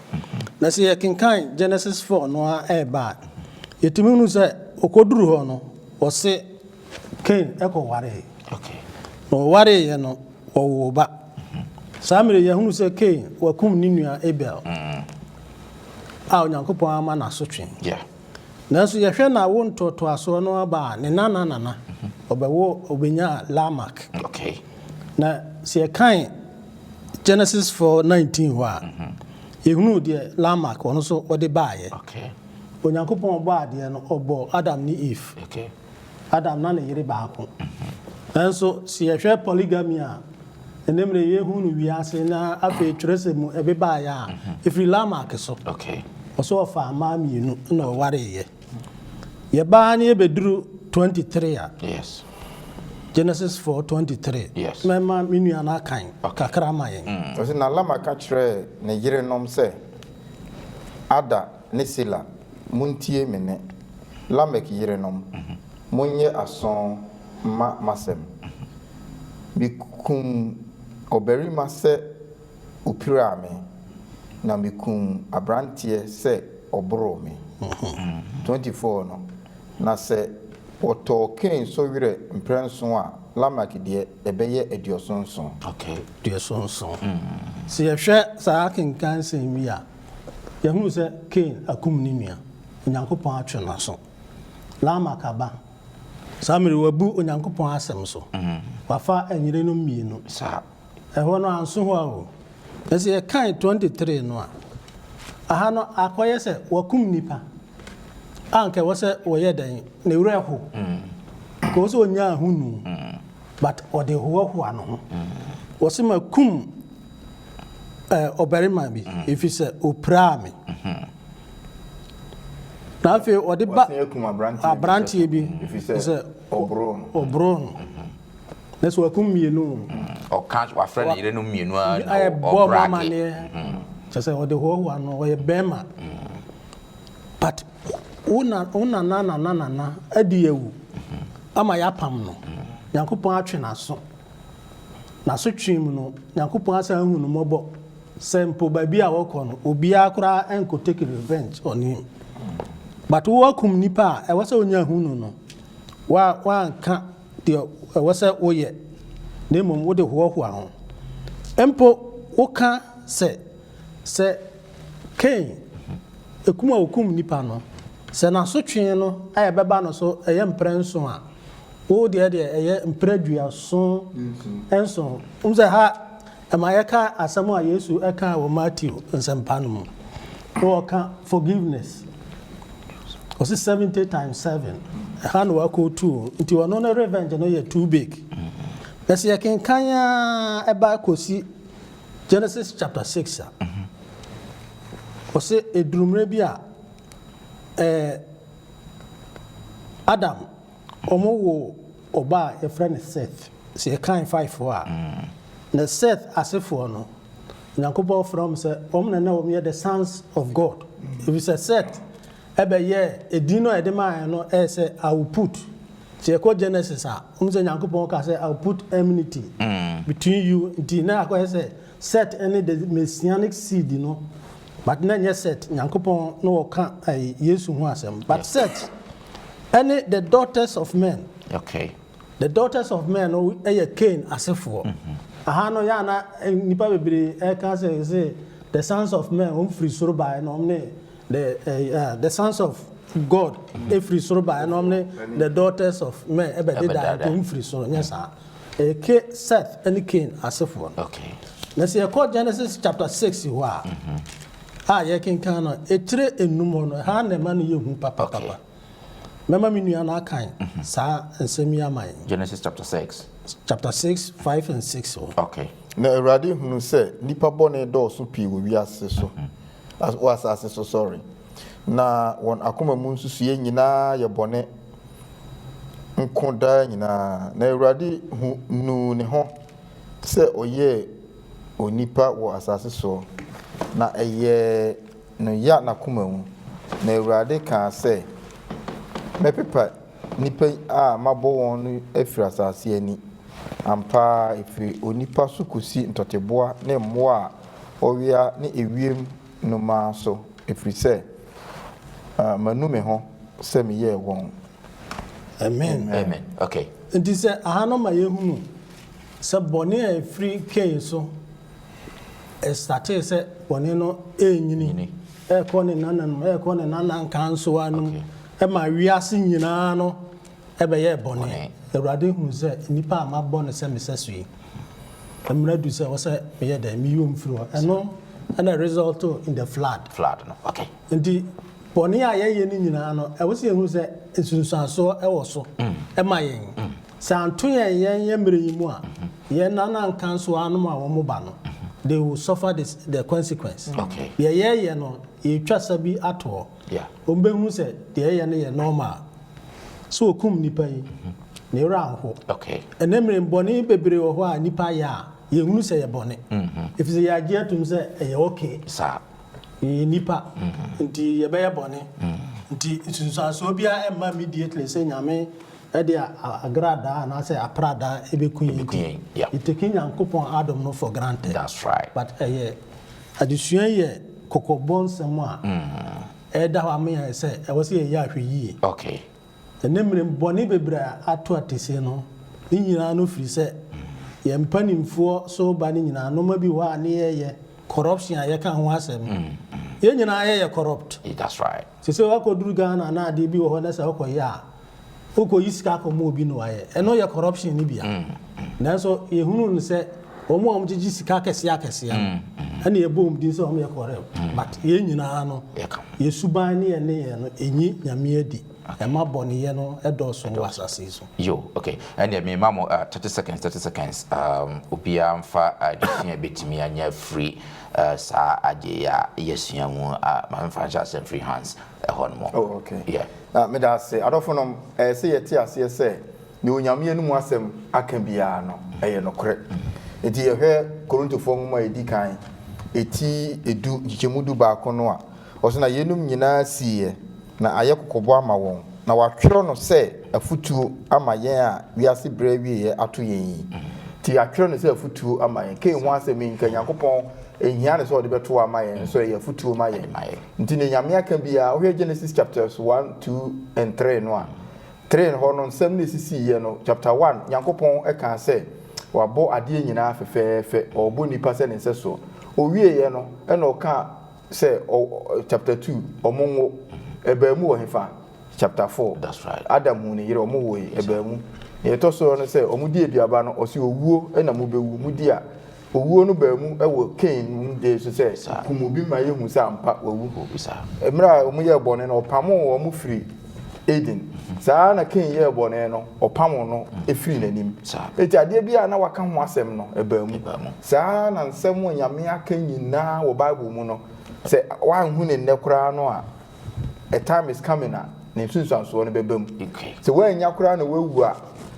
Na sɛ yɛkenkan Genesis 4 no ara ba a, yɛtumi hunu sɛ ɔkɔduru hɔ no, Wɔse Kain kɔ waree. Na wɔwareeɛ no wɔwoo ba. Saa mmerɛ yi yɛhunu sɛ Kain wakum ne nua Abel a Onyankopɔn ama no asotwe. Nanso yɛhwɛ n'awo ntoatoasoɔ no aba a, ne nana nana ɔbɛwo ɔbɛnyaa Lamak. Na sɛ yɛkan Genesis 4, 19 hɔ a, yɛhunu deɛ Lamak ɔno nso ɔde baeɛ. Onyankopɔn a ɔbɔɔ adeɛ no, ɔbɔɔ Adam ne Eve. Okay. Adam na ne yere baako. Nanso sɛ yɛhwɛ polygamy a ɛne mmerɛ yɛhu no wiase na afei twerɛsɛm mu ɛbebaeɛ a, ɛfiri Lamak so. Okay. Ɔsɛ ɔfaa mmaa mmienu na ɔwareeɛ. Yɛbaa ne yɛbɛduru 23 a. Yes. Genesis 4:23. Yes. Mɛma me nua no akan kakra ma yɛn. Ɔsɛ na Lamak ka kyerɛɛ ne yerenom sɛ. Ada ne Sila, muntie me nne. Lamek yerenom, monyɛ aso mma m'asɛm. Mikum ɔbarima sɛ opiraa me, na mikum aberanteɛ sɛ ɔboroo me. 24 no, na sɛ wɔtɔɔ Kain so werɛ mprɛnson a, Lamek deɛ, ɛbɛyɛ aduɔson nson. aduɔson nson. Sɛ yɛhwɛ saa akenkan nsɛm yi a, yɛhunu sɛ Kain akum ne nua. Onyankopɔn atwe n'aso. Lamek aba. Saa mmerɛ yi, wabu Onyankopɔn asɛm so. Wafa ɛnyerenom mmienu. Ɛhɔ no, anso hɔ ara o. Na sɛ yɛkan twenty three no a, aha no akɔyɛ sɛ wakum nnipa a anka ɛwɔ sɛ wɔyɛ dɛn? Ne werɛ ho. Ɛwɔ sɛ ɔnya ahonu. but ɔde hoahoa ne ho. Ɔse makum eh, ɔbarima bi ɛfiri sɛ ɔpiraa me. Na afei ɔde ba Wasan akum aberanteɛ bi aberanteɛ bi ɛfiri sɛ sɛ ɔboroo no. ɔboroo no. Na sɛ wakum mmienu o, ɔka wafrɛ ne yerenom mmienu a na ɔ- ɛbɔ mo ɔbrake amaneɛ kyɛ sɛ ɔde hoahoa no ɔyɛ bɛrima but Wo na wo nana nana nana adi awu ama yɛapam no, Nyankopɔn atwe n'aso. N'asotwee mu no, Nyankopɔn asan ahu no mmɔbɔ, sɛ mpo baabi a wɔkɔ no, obiara koraa ɛnkɔ take revenge on him. But wo akum nipa a ɛwɔ sɛ onya hu no no, wa wanka deɛ ɛwɔ sɛ woyɛ, na mmom wode hoahoa ho. Mpo woka sɛ, sɛ. Kain, ekum a okum nnipa no, sɛ n'asotwe no a ɛbɛba no so yɛ mprɛ nson a, wo deɛ deɛ ɛyɛ mprɛ duason nson. Wohu sɛ ha ɛma yɛka asɛm a Yesu kaa wɔ Mateo Nsɛmpa no mu, na ɔka forgiveness, ɔse seventy times seven, ɛha na wakootu o, nti ɔno ne revenge no yɛ too big. Na sɛ yɛkenkan ara ɛba kɔsi Genesis chapter six a, ɔsɛ eduru mmerɛ bi a, ɛɛ Adam wɔn wo ɔba a yɛfrɛ no Seth. Sɛ yɛkan Faefoɔ a, na Seth asefoɔ no, Onyankopɔn frɛ wɔn sɛ wɔn na na wɔn yɛ the sons of God. Efisɛ Seth ɛbɛyɛɛ edin no a yɛde maa no ɛyɛ sɛ I will put. Sɛ yɛkɔ Genesis a, wohu sɛ Nyankopɔn kaa sɛ, I will put enmity between you nti na akɔyɛ sɛ Set ne the Messianic seed no but na ɛnyɛ Set, Nyankopɔn na ɔka ɛyi Yesu ho asɛm but Set ne the daughters of men. Okay. The daughters of men no yɛ Cain asefoɔ. Aha no yɛ a na nnipa bebree ɛka sɛ sɛ the sons of men wɔn firi soro baeɛ na wɔn ne The eh, ah, the sons of God ɛfiri soro baeɛ na ɔmne the daughters of men ɛbɛdedaeɛ nti ɔm firi soro nyɛ saa ɛyɛ Ke- Seth ɛne Cain asefoɔ no Okay. na sɛ yɛkɔ Genesis chapter 6 hɔ a a yɛkenkan no ɛkyerɛ enum hɔ no ɛha na ɛma no yɛ hu Okay. papapapa Mɛma me nua no akan saa nsɛm yi ama yɛn. Genesis chapter six. Chapter six, five and six. Oh. Okay. Na Awurade hunu sɛ nnipa bɔne dɔɔso pii wɔ wiase so, mm-hmm. wɔ asase so, sorry. Na wɔn akoma mu nsusuiɛ nyinaa yɛ bɔne nko daa nyinaa. Na Awurade hu nuu ne ho sɛ ɔyɛɛ onipa wɔ asase soɔ, na ɛyɛɛ no ya n'akoma mu. Na Awurade kaa sɛ, Mɛpepa nnipa a mabɔ wɔn no afiri asase ani. Ampa ara, ɛfiri onipa so kɔsi ntɔteboa ne mmoa a wɔwea ne ewiem nnomaa so, ɛfiri sɛ manu me ho sɛ meyɛɛ wɔn. Amen. Enti sɛ aha no ma yɛhunu sɛ bɔne a ɛfiri Kain so. ɛstartee sɛ bɔne no renyini, ɛrekɔ ne nananom, ɛrekɔ ne nanankansowa nom, ɛma wiase nyinaa no ɛbɛyɛɛ bɔne. Awurade huu sɛ nnipa a mabɔ no sɛ me sɛso yi, mmerɛ adu sɛ ɛwɔ sɛ meyɛ dɛn? Meyɔ mu firi hɔ. Ɛno ɛna resulto in the flood. Flood no, okay. Nti bɔne a yɛyɛ no nyinaa no, ɛwɔ sɛ yɛhunu sɛ nsunsuansoɔ ɛwɔ so ɛma yɛn. Sɛ anto yɛn yɛn yɛn mmerɛ yi mu a, yɛn nana nka nso anom a wɔn ba no, they will suffer the, the consequence. Okay. Deɛ yɛyɛ no, yɛtwa sa bi ato hɔ. Yeah. Wɔn bɛhu sɛ deɛ yɛyɛ no yɛ normal. So okum nipa yi, ne werɛ anho. Okay. Ɛnɛ mmerɛ bɔne bebree wɔ hɔ a nipa yɛ a, yɛhunu sɛ yɛ bɔne. Mm-hmm. Ɛfiri sɛ yɛagye atum sɛ ɛyɛ okay. Saa. Yɛyɛ nipa, mm-hmm. nti yɛbɛyɛ bɔne. Mm-hmm. Nti nsunsuansoɔ biara ɛmma immediately sɛ nyame Ɛde agradaa anaasɛ apradaa ɛbɛku yɛn nti you taking Nyankopɔn adom no for granted but ɛyɛ adesua yi yɛ kɔkɔbɔ nsɛm a ɛda hɔ ama yɛn sɛ ɛwɔ sɛ yɛyɛ ahwɛyie ɛnɛ mmerɛ mu bɔne bebree a ato atise no ne nyinaa no firi sɛ yɛn mpanimfoɔ so ba ne nyinaa nnoɔma bi wɔ hɔ a ne yɛyɛ corruption a yɛka ho asɛm yɛn nyinaa yɛyɛ corrupt Sesei wakɔduru Ghana na adeɛ bi wɔ hɔ na sɛ wokɔyɛ a, wokɔyi sika kɔma obi na wayɛ. Ɛno yɛ corruption no bi a. Nanso yɛhunu no sɛ wɔn a wɔgyegye sika akɛseɛ akɛseɛ no ɛna yɛbɔ wɔn din sɛ wɔyɛ corrupt. But yɛn nyinaa no, yɛn suban ne yɛn nneyɛɛ no nnye Nyame adi. Ɛma bɔneyɛ no dɔɔso wɔ asase yi so. Yo, ok. Ɛnneɛ mema mo thirty seconds, thirty seconds, umm, obiara mfa adesua a ɛbɛtumi anya afiri saa ade yi a yɛasua mu a, ma memfa nhyɛ aseɛ mfiri Hans hɔ nom. Oh, ok. Yeah. Meda ase. Adɔfo nom, ɛyɛ sɛ yɛte aseɛ sɛ deɛ Onyame anom asɛm aka biara no, ɛyɛ nokorɛ. Enti yɛhwɛ Korintofoɔ nwoma a ɛdi kan, ɛti du, nkyekyɛmu du baako no a, Ɔse na yeinom nyinaa siiɛ na ayɛ kɔkɔbɔ ama wɔn, na wɔatwerɛ no sɛ afutuo ama yɛn a wiase berɛ awieɛ ato yɛn yi. Nti yɛatwerɛ no sɛ afutuo ama yɛn. Kain ho asɛm yi, nka Nyankopɔn nhia no sɛ ɔde bɛto ama yɛn, nso ɛyɛ afutuo ma yɛn. Nti deɛ Nyame aka biara, wohwɛ Genesis chapters one, two and three no a, three no hɔ no, nsɛm no a ɛsisiiɛ no, chapter one, Nyankopɔn kaa sɛ Wabɔ adeɛ nyinaa fɛfɛɛfɛ, ɔrebɔ nnipa sɛ Ne nsɛsoɔ. Ɔwieeɛ no, ɛna ɔkaa sɛ ɔ chapter two ɔmo nwo ɛbaa mu wɔ hefa chapter four that's right adam hu ne yere ɔmo wo yi ɛbaa mu nea ɛtɔ so no sɛ ɔmo di aduaba no ɔsi owuo ɛna mo bɛ wu mo di a owuo no baa mu ɛwɔ kain mu de so sɛ kum obi ma yɛ hu sɛ ampa wawu mmerɛ a ɔmo yɛ bɔne no ɔpamo ɔmo firi Eden. Saa ara na Kain yɛɛ bɔne no, ɔpamoo no firii n'anim. Enti adeɛ biara a na wɔaka ho asɛm no, ɛbaa mu. Saa ara na nsɛm a Onyame aka nyinaa wɔ Bible mu no, sɛ woanhu no nnɛ koraa no a, a time is coming a ne nsunsuansoɔ no bɛba mu. Sɛ woannya koraa na woawu a,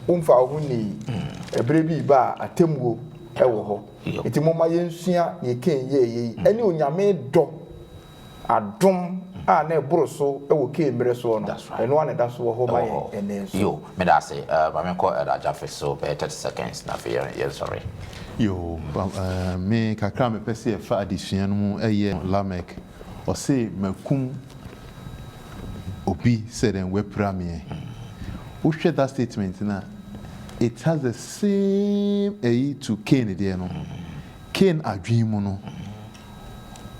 womfaa wo ho nnii. Ɛberɛ bi reba a atemmuo wɔ hɔ. Enti momma yɛnsua deɛ Kain yɛeɛ yi ne Onyame dɔ Adom a na ɛboro so wɔ Kain mmerɛ soɔ no, ɛno ara na ɛda so wɔ hɔ ma yɛn ɛnnɛ nso. Yo, meda ase. Eh, ma menkɔ Elder Jaffe so bɛyɛ thirty seconds na afei yɛn, yɛnsɔre. Yo, eh, me kakra a mepɛ sɛ yɛfa adesua no mu yɛ Lamek, ɔse makum obi sɛ dɛn, wapira me ɛ. Wohwɛ that statement no a, it has the same ɛyi to Kain deɛ no. Kain adwene mu no,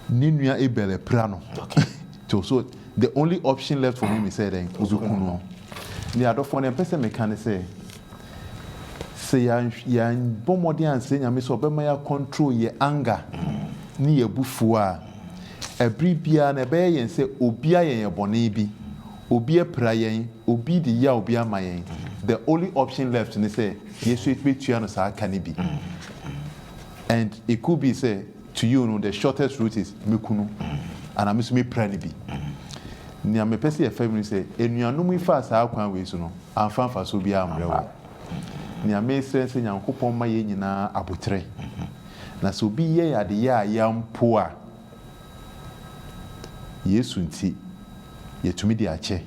ne nua Abel apira no to so the only option left for me me sɛ dɛn obeku no ne adɔfoɔ no mpɛ sɛ meka ne sɛ sɛ yɛbɔ mmɔden ansɛ nyame sɛ ɔbɛma yɛ control yɛ anger ne yɛ abufuo a ɛbere biara na ɛbɛyɛ yɛn sɛ obi ayɛ yɛn bɔne bi obi apira yɛn obi de yaw bi ama yɛn the only option left ne sɛ yɛsɔ bɛtua no saa ka no bi and it could be sɛ to you no the shortest route is mɛku no anaa me nso mɛpira no bi nea mepɛ sɛ yɛfa mu no sɛ anuanom yi faa saa kwan wei so no amfa mfasoɔ biara ammerɛ wɔn nea mesrɛ ne sɛ Nyankopɔn mma yɛn nyinaa aboterɛ na sɛ obi yɛ yɛn adeyɛ a yɛampo a Yesu nti, yɛtumi de akyɛ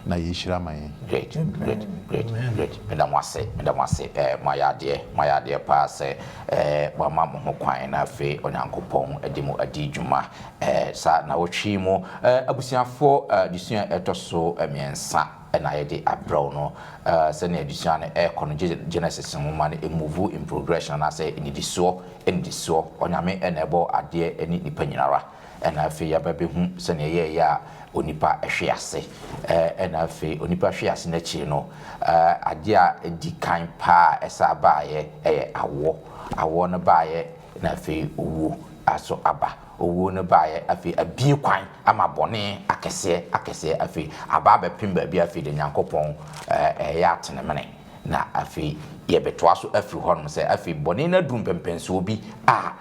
na yɛhyira ma yɛn. Great, great, great, great. Meda mo ase, meda mo ase. Eh, mo ayɛ adeɛ, mo ayɛ adeɛ paa sɛ eh, mo ama mo ho kwan na afei Onyankopɔn de mo adi dwuma eh, saa nawɔtwe yi mu. Eh, abusuafoɔ, eh, adesua ɛtɔ so mmiɛnsa na yɛde abrɛw no. Eh, sɛnea adesua no ɛrekɔ no, Genesis nwoma no emuvu in progression anaasɛ nnidisoɔ Nnisoɔ, Onyame na ɛbɔɔ adeɛ ne nipa nyinara, ɛna afei yɛaba bɛhu sɛdeɛ ɛyɛɛyɛ a onipa hwe ase. Ɛna afei onipa hwe ase no akyiri no, adeɛ a ɛdi kan paa a ɛsan baeɛ ɛyɛ awoɔ. Awoɔ no baeɛ na afei owuo nso aba. Owuo no baeɛ afei abue kwan ama bɔne akɛseɛ akɛseɛ afei aba abɛpem baabi a afei deɛ Nyankopɔn ɛɛyɛ atenemene. Na afei yɛbɛtoa so afiri hɔnom sɛ afei bɔne no aduru mpɛnpɛnsoɔ bi a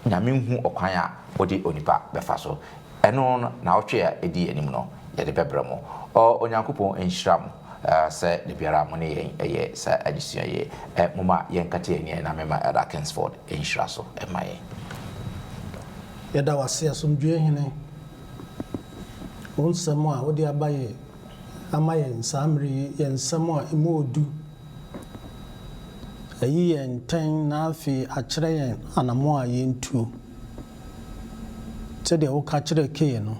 Nyame nhu ɔkwan a ɔde onipa bɛfa so. Ɛno no, naawɔtwe a ɛdi anim no, yɛde bɛbrɛ mo. O Onyankopɔn nhyira mo sɛ da biara a mo ne yɛn yɛ saa adesua yi. Momma yɛnkata yɛn ani na memma Elder Kingsford nhyira so mma yɛn. Yɛda wo ase, Asomdwoeɛ Hene, wo nsɛm a wode aba yɛ ama yɛn saa mmere yi yɛ nsɛm a emu odu, ayi yɛn ntɛn na afei akyerɛ yɛn anammɔn a yentuo. Sɛdeɛ woka kyerɛɛ Kain no,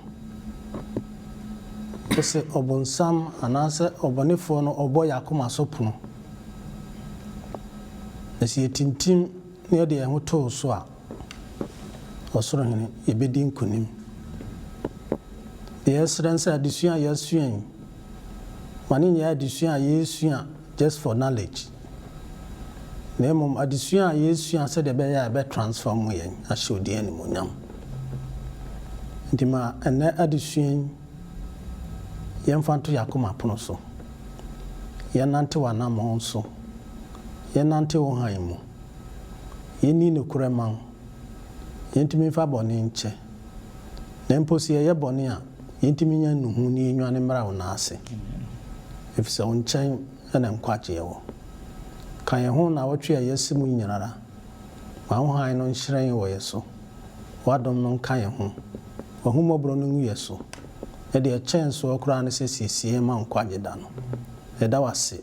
wose ɔbonsam anaasɛ ɔbɔnefoɔ no ɔbɔ yɛn akoma so pono, na sɛ yɛtintim na yɛde yɛn ho to wo so a, Ɔsoro Hene, yɛbɛdi nkonim. Deɛ yɛsrɛ ne sɛ adesua a yɛasua yi, ma no nyɛ adesua a yɛresua just for knowledge, na mmom adesua a yɛresua sɛdeɛ ɛbɛyɛ a ɛbɛ transform yɛn ahyɛ wo din animuonyam. Nti ma ɛnnɛ adesua yi, yɛmfa nto yɛn akoma pono so, yɛnnante w'anammɔn so, yɛnnante wo hann mu. Yenni nokorɛ mma wo, yentumi mfa bɔne nkyɛ, na mpo sɛ yɛyɛ bɔne a, yentumi nya nnuhu na yenwane mmra wo nan ase, efisɛ wo nkyɛn na nkwagyeɛ wɔ. Ka yɛn ho nnawɔtwe a yɛasi mu nyinara, ma wo hann no nhyerɛn wɔ yɛn so, w'adom no nka yɛn ho, w'ahummɔborɔ no ngu yɛn so, na deɛ ɛkyɛn soɔ koraa ne sɛ siesie yɛn ma nkwagye da no. Yɛda wo ase,